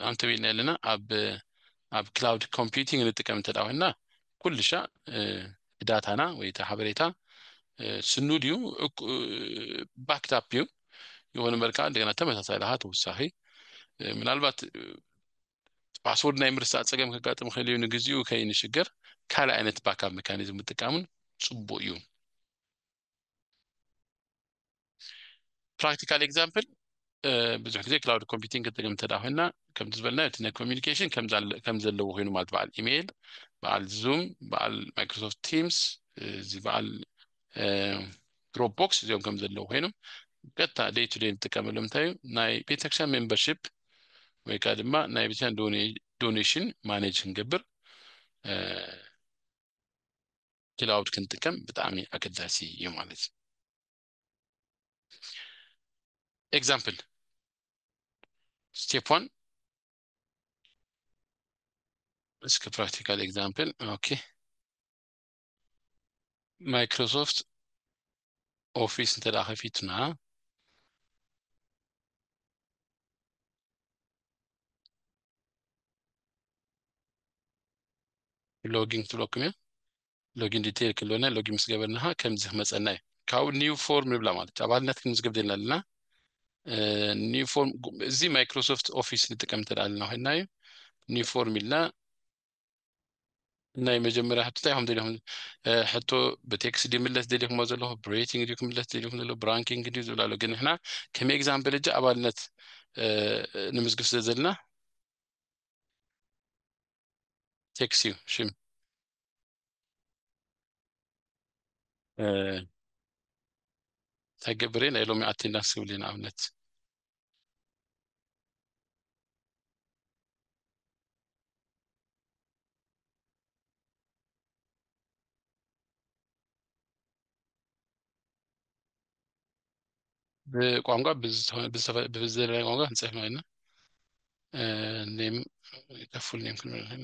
ኣንተቤልና ኣለና ኣብ ኣብ ክላውድ ኮምፒቲንግ ንጥቀም እንተ ኮይንና ኩልሻዕ እቲ ዳታና ወይ እቲ ሓበሬታ ስኑድ እዩ ባክድ ኣፕ እዩ ይኹን እምበር ከኣ እንደገና ተመሳሳይ ለኻ ተወሳኺ ምናልባት ፓስወርድ ናይ ምርሳዕ ጸገም ከጋጥም ይኽእል እዩ ንግዚኡ ከይንሽገር ካልእ ዓይነት ባካፕ መካኒዝም ምጥቃምን ጽቡቅ እዩ ፕራክቲካል ኤግዛምፕል ብዙሕ ግዜ ክላውድ ኮምፒቲንግ ክንጥቀም እንተ ኮይና ከምቲ ዝበልናዮ እቲ ናይ ኮሚኒኬሽን ከም ዘለዎ ኮይኑ ማለት በዓል ኢሜይል በዓል ዙም በዓል ማይክሮሶፍት ቲምስ እዚ በዓል ድሮፕ ቦክስ እዚኦም ከም ዘለዎ ኮይኖም ቀጥታ ደይ ቱ ደይ ንጥቀመሎም እንታይ እዩ ናይ ቤተክርስትያን ሜምበርሽፕ ወይ ከዓ ድማ ናይ ቤተክርስትያን ዶኔሽን ማኔጅ ክንገብር ክላውድ ክንጥቀም ብጣዕሚ ኣገዳሲ እዩ ማለት እዩ ኤግዛምፕል ስቴፕ ዋን እስኪ ፕራክቲካል ኤግዛምፕል ኦኬ ማይክሮሶፍት ኦፊስ እንተ ደኣ ከፊትና ሎጊን ክትብለኩም እያ ሎጊን ዲቴይል ክለነ ሎጊን ምስ ገበርናኻ ከምዚ ክመፀና እዩ ካብኡ ኒው ፎርም ንብላ ማለት እዩ ኣባልነት ክንምዝገብ ዘለና ኣለና ኒው ፎርም እዚ ማይክሮሶፍት ኦፊስ ንጥቀም እንተ ኣለና ኮይንና እዩ ኒው ፎርም ኢልና ናይ መጀመርያ ሕቶ እንታይ ኢኹም ደሊኹም ሕቶ ብቴክስ ድዩ ምለስ ደሊኹሞ ዘለኹ ብሬቲንግ ድዩ ክምለስ ደሊኹም ዘሎ ብራንኪንግ ድዩ ዝብል ኣሎ ግን ንሕና ከም ኤግዛም በለጃ ኣባልነት ንምዝግብ ስለ ዘለና ቴክስ እዩ ሽም ተገብሬ ናይ ሎሚ ኣቴንዳንስ ክብል ንኣብነት ብቋንቋ ብዝተፈላለየ ቋንቋ ክንፅሕፍ ማለት ኔም ከፉል ኔም ክንብል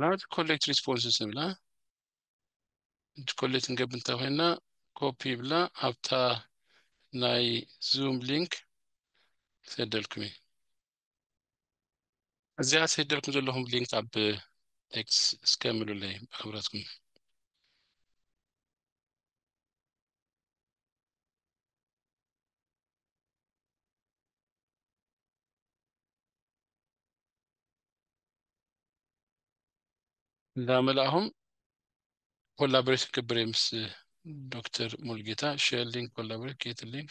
ላቲ ኮሌክት ሪስፖንስስ ንብላ እቲ ኮሌክት ንገብ እንተኮይና ኮፒ ብላ ኣብታ ናይ ዙም ሊንክ ክሰደልኩም እዩ እዚኣ ሰደልኩም ዘለኹም ሊንክ ኣብ ኤክስ እስከ ምሉለይ ብክብረትኩም እዛ መላእኹም ኮላቦሬሽን ክብሬ ምስ ዶክተር ሙልጌታ ሼር ሊንክ ኮላቦሬት ጌት ሊንክ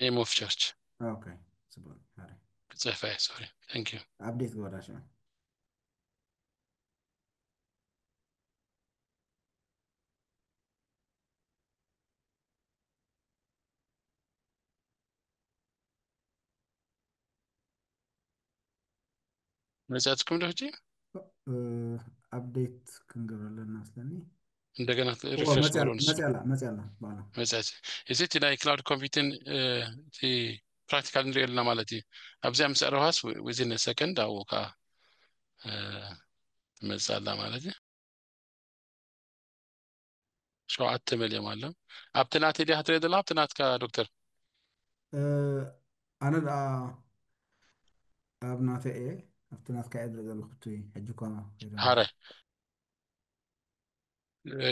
ኔም ኦፍ ቸርች ኦኬ ጽቡቅ ኣረ ክጽሕፋ እየ ሶሪ ታንክ ዩ ኣብዴት ግበራ ሽዑ መፅያትኩም ዶ ሕጂ ኣፕዴት ክንገብር ኣለና ስለኒ እንደገና ሪፍሬሽ ግበሮ ንሱ መፅያላ መፅያላ በዓላ መፅያት እዚ እቲ ናይ ክላውድ ኮምፒትን እቲ ፕራክቲካል ንሪኦ ኣለና ማለት እዩ ኣብዚኣ ምስ ኣረውሃስ ዊዝን ሰከንድ ኣብኡ ከዓ ትመፅእ ኣላ ማለት እዩ ሸውዓተ መሊኦም ኣሎም ኣብቲ ናተይ ድያ ክትሪኦ ዘለካ ኣብቲ ናትካ ዶክተር ኣነ ደኣ ኣብ ናተይ እየ ኣብቲ ናትካ እየ ዝርኢ ዘለኹ እቲ ሕጂ እኳ ሃረ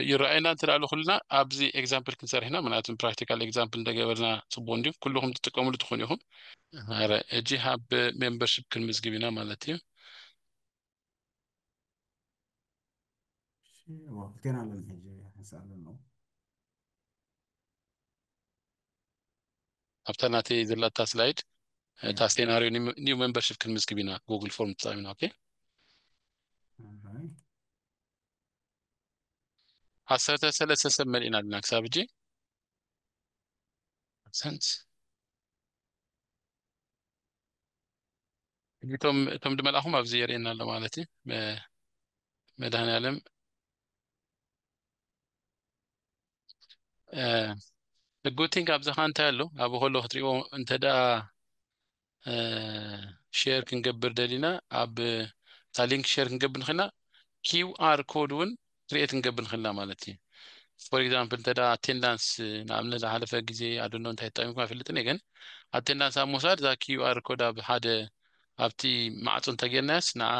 ይረኣየና እንተ ዳኣሉ ኩልና ኣብዚ ኤግዛምፕል ክንሰርሕና ምክንያቱ ፕራክቲካል ኤግዛምፕል እንደገበርና ፅቡቅ እንዲዩ ኩልኩም ትጥቀምሉ ትኾኑ ኢኹም ሃረ እጂ ሃብ ሜምበርሽፕ ክንምዝግብ ኢና ማለት እዩ ገና ኣለን ሕጂ ሕንሳ ኣለኖ ኣብታ ናተይ ዘላታ ስላይድ እታ ሴናሪዮ ኒው ሜምበርሽፕ ክንምዝግብ ኢና ጉግል ፎርም ተጠቒምና ኦኬ ዓሰርተ ሰለስተ ሰብ መሊእና ኣለና ክሳብ ሕጂ ሰንት እቶም እቶም ድመልኣኹም ኣብዚ የርእየና ኣሎ ማለት እዩ መድኃኔዓለም ጉቲንግ ኣብዛኻ እንታይ ኣሎ ኣብ ከሎ ክትሪእዎ እንተ ደኣ ሼር ክንገብር ደሊና ኣብ እታ ሊንክ ሼር ክንገብር ንኽእልና ኪው ኣር ኮድ እውን create ክንገብር ንኽእል ኢና ማለት እዩ። for example እንተ attendance ንኣብነት ዝሓለፈ ግዜ I don't know እንታይ ተጠቂምኩም ኣይፈልጥን እየ ግን attendance ኣብ ምውሳድ እዛ QR ኮድ ኣብ ሓደ ኣብቲ ማዕጾ እንተ ጌርናያስ ንዓ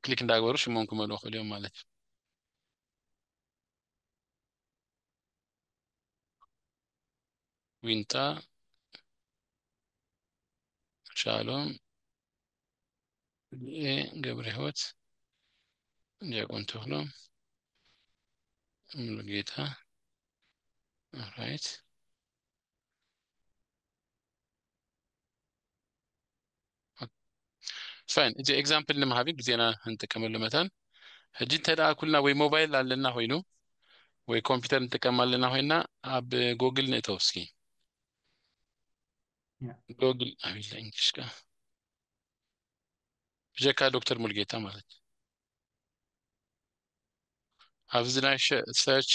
ክሊክ እንዳገበሩ ሽሞም ክመልኡ ይኽእሉ እዮም ማለት እዩ። ዊንታ ሻሎም ገብረ ህይወት ዲያቆን ተክሎ ሙሉጌታ ራይት ፋይን እዚ ኤግዛምፕል ንምሃቢ ግዜና እንጥቀመሉ መታን ሕጂ እንተ ደኣ ኩልና ወይ ሞባይል ኣለና ኮይኑ ወይ ኮምፒውተር እንጥቀም ኣለና ኮይና ኣብ ጎግል ንእተው እስኪ ጎግል ኣቢለ እንግሊሽ ከ ብጀካ ዶክተር ሙልጌታ ማለት እዩ ኣብዚ ናይ ሰርች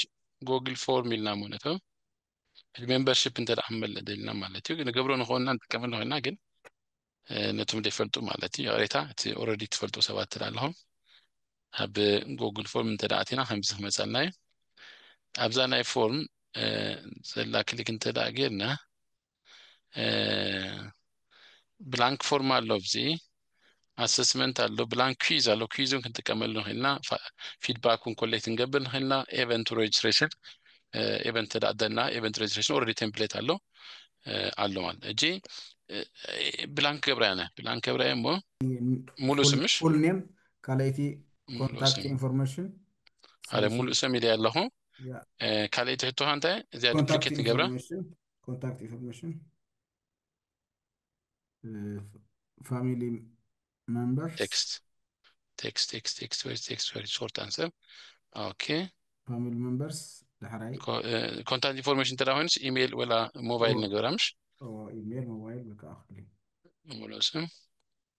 ጎግል ፎርም ኢልና ማለት ው ሜምበርሽፕ እንተ መለ ደልና ማለት እዩ ንገብሮ ንኸውና ንጥቀመሉ ኮይና ግን ነቶም ዘይፈልጡ ማለት እዩ ይቕሬታ እቲ ኦረዲ ትፈልጡ ሰባት ትዳ ኣለኹም ኣብ ጎግል ፎርም እንተ ኣቲና ከምዚ ክመፀልና እዩ ኣብዛ ናይ ፎርም ዘላ ክሊክ እንተ ጌርና ብላንክ ፎርም ኣሎ ኣብዚ ኣሰስመንት ኣሎ ብላንክ ኩዝ ኣሎ ኩዝ እውን ክንጥቀመሉ ንኽእል ኢና ፊድባክ እውን ኮሌክት ክንገብር ንኽእል ኢና ኤቨንት ሬጅስትሬሽን ኤቨንት ተዳእደና ኤቨንት ሬጅስትሬሽን ኦልሬዲ ቴምፕሌት ኣሎ ኣሎ ማለት እጂ ብላንክ ገብራያ ነ ብላንክ ገብራያ እሞ ሙሉ ስምሽ ፉል ኔም ካልኣይቲ ኮንታክት ኢንፎርሜሽን ሓደ ሙሉእ ሰም ኢለ ኣለኹ ካልኣይቲ ሕቶኻ እንታይ እዚኣ ዱፕሊኬት ንገብራ ኮንታክት ኢንፎርሜሽን ፋሚሊ መንበር ቴክስት ቴክስት ቴክስት ቴክስት ወይ ቴክስት ወይ ሾርት ኣንሰር ኦኬ ፋሚሊ መንበርስ ዳሕራይ ኮንታክት ኢንፎርሜሽን እንተ ኮይኑስ ኢሜይል ወላ ሞባይል ንገብራ ምሽ ኢሜይል ሞባይል በቃ ኣኽሊ ሙሉእ ስም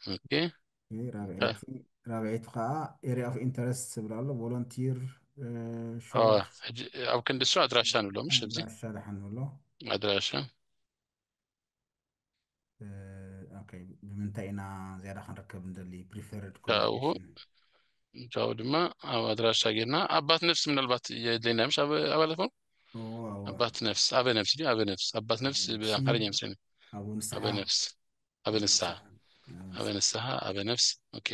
ኦኬ ራብዐይቲ ራብዐይቲ ከዓ ኤሪያ ኦፍ ኢንተረስት ዝብል ኣሎ ቮለንቲር ሾርት ሕጂ ኣብ ክንዲ እሱ ኣድራሻ ንብሎ ምሽ እዚ ኣድራሻ ደሓን ንብሎ ኣድራሻ እ፣ ኦኬ ብምንታይ ኢና ዝያዳ ክንርከብ ንደሊ ፕሪፈርድ ካብኡ ካብኡ ድማ ኣብ ኣድራሻ ጌርና ኣባት ነፍሲ ምናልባት የድለየና ምሽ ኣብ ኣባላት ኮን ኣባት ነፍስ ኣበ ነፍስ ድዩ ኣበ ነፍስ ኣባት ነፍስ ብኣምሓርኛ ይመስለኒ ኣበ ነፍስ ኣበ ንስሓ ኣበ ንስሓ ኣበ ነፍስ ኦኬ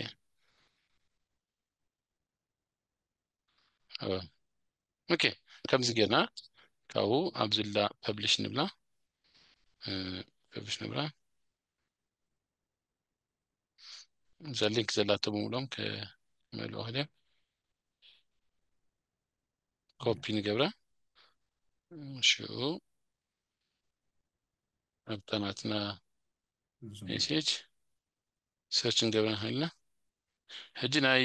ኦኬ ከምዚ ጌርና ካብኡ ኣብዝላ ፐብሊሽ ንብላ ፐብሊሽ ንብላ እዛ ሊንክ ዘላቶ ብምሎም ከመልኦ ክልዮም ኮፒ ንገብራ ሽኡ ኣብታ ናትና ሜሴጅ ሰርች ንገብራ ንክእልና ሕጂ ናይ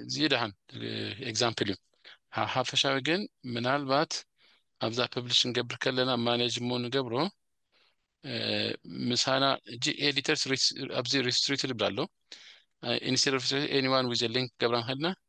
እዚ ደሓን ኤግዛምፕል እዩ ሓፈሻዊ ግን ምናልባት ኣብዛ ፐብሊሽ ንገብር ከለና ማኔጅ እሞ ንገብሮ ምሳና እጂ ኤዲተርስ ኣብዚ ሪስትሪክትድ ይብላ ኣሎ ኢንስቴድ ኦፍ ኤኒዋን ዊዝ ሊንክ ገብራ ንክእልና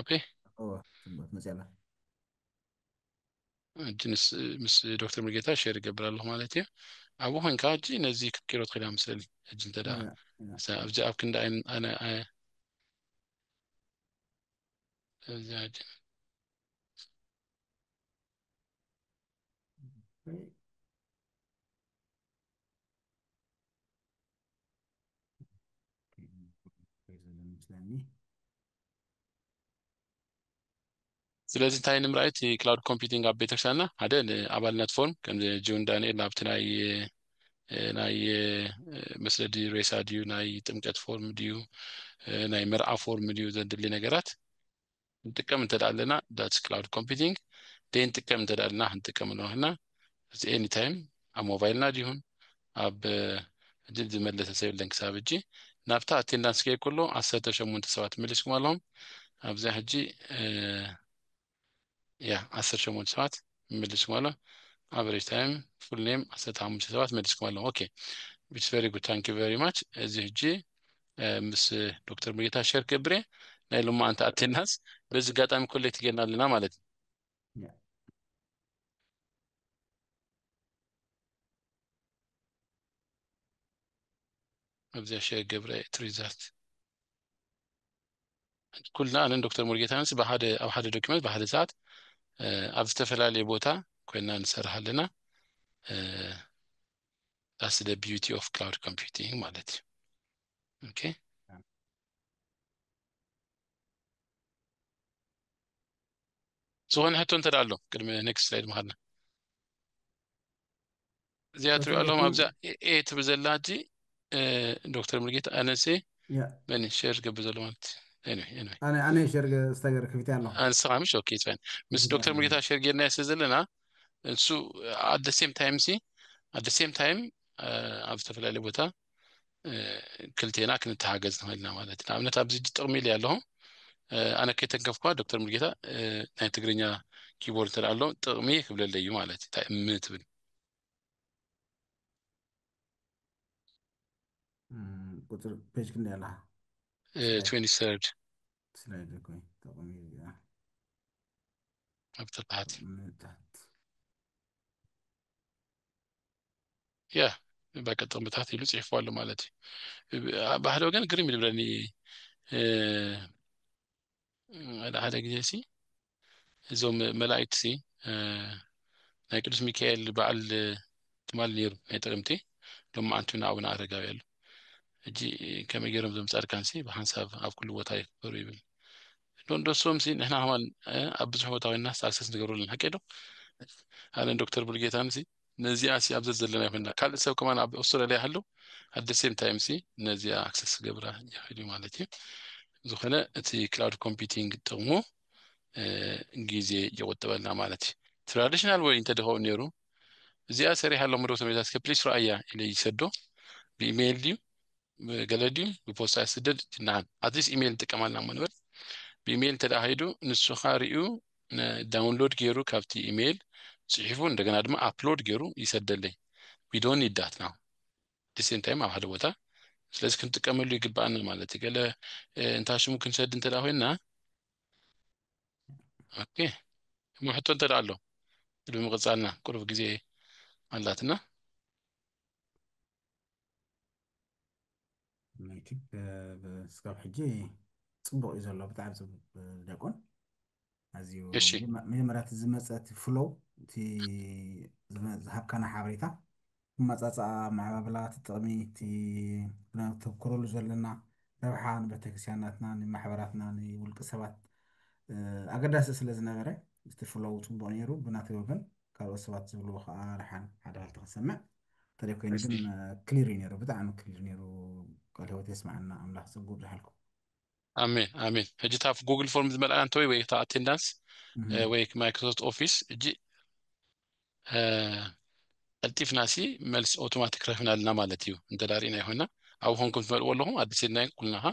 ኦኬ እወ ጽቡቅ መጽያ ኣላ ሕጂ ምስ ምስ ዶክተር ሙሉጌታ ሼር ይገብር ኣለኹ ማለት እዩ ኣብኡ ኮንካ ሕጂ ነዚ ክትቅይሮ ትኽእል እያ ምስእሊ ሕጂ እንተ ደኣ እያ፣ እያ። እዛ ኣብዚ ኣብ ክንዲ ኣይ ኣነ ኣይ እዚ ሕጂ ስለዚ እንታይ ንምርኣይ እቲ ክላውድ ኮምፒቲንግ ኣብ ቤተክርስትያንና ሓደ ንኣባልነት ፎርም ከም ጆን ዳንኤል ናብቲ ናይ ናይ መስለዲ ሬሳ ድዩ ናይ ጥምቀት ፎርም ድዩ ናይ መርዓ ፎርም ድዩ ዘድሊ ነገራት ንጥቀም እንተ ደኣ ኣለና ዳትስ ክላውድ ኮምፒቲንግ ደይንጥቀም እንተ ደኣ ኣለና ክንጥቀም ኣለና ክልና እዚ ኤኒ ታይም ኣብ ሞባይልና ድይኹን ኣብ ድል ዝመለሰ ሰብ የለን ክሳብ ሕጂ ናብታ ኣቴንዳንስ ከይ ከሎ ዓሰርተ ሸሞንተ ሰባት መሊስኩም ኣለኹም ኣብዚኣ ሕጂ ያ ዓሰርተ ሸሞንተ ሰባት መሊስኩም ኣሎ ኣቨሬጅ ታይም ፉል ኔም ዓሰርተ ሓሙሽተ ሰባት መሊስኩም ኣለኹም ኦኬ ኢትስ ቨሪ ጉድ ታንክ ዩ ቨሪ ማች እዚ ሕጂ ምስ ዶክተር ሙሉጌታ ሸር ክገብር እየ ናይ ሎማዓንቲ ኣቴናስ በዚ ኣጋጣሚ ኮሌክት ጌርና ኣለና ማለት እዩ ኣብዚኣ ሸር ገብረ እየ እቲ ሪዛልት ኩልና ኣነን ዶክተር ሙሉጌታንስ ብሓደ ኣብ ሓደ ዶኪመንት ብሓደ ሰዓት ኣብ ዝተፈላለየ ቦታ ኮይና ንሰርሕ ኣለና ዳስ ደ ቢዩቲ ኦፍ ክላውድ ኮምፒውቲንግ ማለት እዩ ኦኬ ዝኾነ ሕቶ እንተ ኣሎ ቅድሚ ኔክስት ስላይድ ምሃድና እዚኣ ትሪኦ ኣለኹም ኣብዛ ኤ ትብል ዘላ እጂ ዶክተር ሙልጌታ ኣነሴ ያ በኒ ሸር ዝገብር ዘሎ ማለት እዩ ኤኒዌይ ኤኒዌይ ኣነ ኣነ ሸር ዝተገር ከፊተ ኣለኹ ኣንስኻ ምሽ ኦኬ ይፅበን ምስ ዶክተር ይፅበን። ሙልጌታ ሸር ጌርና ስለ ዘለና እሱ ኣደ ሴም ታይም ሲ ኣደ ሴም ታይም ኣብ ዝተፈላለየ ቦታ እ፣ ክልቴና ክንተሓገዝ ንኽእል ኢና ማለት እዩ ንኣብነት ኣብዚ ሕጂ ጥቕሚ ኢለ ኣለኹ እ፣ ኣነ ከይተንከፍኳ ዶክተር ሙልጌታ እ፣ ናይ ትግርኛ ኪቦርድ እንተ ኣሎ ጥቕሚ ክብለለይ እዩ ማለት እዩ እንታይ እም ትብል ቁፅሪ ፔጅ ክንደይ ኣላ ስላይድ ኮይ ተቕሚ እዚኣ ኣብ ተባሓት ምታት ያ በቃ ጥቕምታት ኢሉ ፅሒፉ ኣሎ ማለት እዩ ባህዶ ግን ግርም ይልብለኒ ሓደ ሓደ ግዜ ሲ እዞም መላእክቲ ሲ ናይ ቅዱስ ሚካኤል በዓል ትማል ነይሩ ናይ ጥቅምቲ ሎም መዓንቲ እውን ኣቡነ ኣረጋዊ ኣሉ እጂ ከመይ ገይሮም ዞም ፃድካን ሲ ብሓንሳብ ኣብ ኩሉ ቦታ ይክበሩ ይብል ዶንዶሶም ሲ ንሕና ከማን ኣብ ብዙሕ ቦታ ኮይና ሳክሰስ ንገብረሉ ሓቂ ዶ ኣነ ዶክተር ብርጌታን ሲ ነዚኣ ሲ ኣብ ዘዘለና ይኹንና ካልእ ሰብ ከማን ኣብ ኣውስትራልያ ይሃሉ ኣት ደ ሴም ታይም ሲ ነዚኣ ኣክሰስ ክገብራ ይኽእል እዩ ማለት እዩ ዝኾነ እቲ ክላውድ ኮምፒቲንግ ጥቕሙ ግዜ ይቑጥበልና ማለት እዩ ትራዲሽናል ወይ እንተደኸኡ ነይሩ እዚኣ ሰሪሕ ኣሎ ምዶ ተመታት ከፕሊስ ረኣያ ኢለ ይሰዶ ብኢሜይል ድዩ ገለ ድዩ ብፖስታ ይስደድ ይናሃን ኣትሊስት ኢሜይል ንጥቀም ኣለና እሞ ንበል ብኢሜይል እንተደኣ ከይዱ ንሱኻ ርዩ ዳውንሎድ ገይሩ ካብቲ ኢሜይል ፅሒፉ እንደገና ድማ ኣፕሎድ ገይሩ ይሰደለይ ዊዶን ይዳት ናው ዲሴም ታይም ኣብ ሓደ ቦታ ስለዚ ክንጥቀመሉ ይግባኣና ማለት እዩ ገለ እንታ ሽሙ ክንሰድ እንተ ኮይና ኦኬ እሞ ሕቶ እንተ ኣሎ ቅድሚ ምቕፃልና ቅሩብ ግዜ ኣላትና ስጋብ ሕጂ ፅቡቅ እዩ ዘሎ ብጣዕሚ ፅቡቅ ዲያቆን ኣዝዩ መጀመርያ እቲ ዝመፀ እቲ ፍሎው እቲ ዝሃብካና ሓበሬታ መፃፃኣ መዓባብላ እቲ ጥቕሚ እቲ ተብክረሉ ዘለና ረብሓ ንቤተክርስትያናትና ንማሕበራትና ንውልቂ ሰባት ኣገዳሲ ስለ ዝነበረ እቲ ፍሎው ፅቡቅ ነይሩ ብናተይ ወገን ካልኦት ሰባት ዝብልዎ ከዓ ረሓን ሓደ ሃልቲ ክሰምዕ እንተደይ ኮይኑ ግን ክሊር እዩ ነይሩ ብጣዕሚ ክሊር ነይሩ ቃል ህይወት የስማዓና ኣምላኽ ፀጉ ብዝሓልኩም ኣሜን ኣሜን ሕጂ እታ ጉግል ፎርም ዝመልኣያ እንተወይ ወይ እታ ኣቴንዳንስ ወይ ማይክሮሶፍት ኦፊስ እጂ ቀልጢፍና ሲ መልሲ ኦቶማቲክ ረኺብና ኣለና ማለት እዩ እንተ ሪእና ይኮና ኣብኡ ኮንኩም ትመልእዎ ኣለኹም ኣዲስ ኢልና ኩልና ካ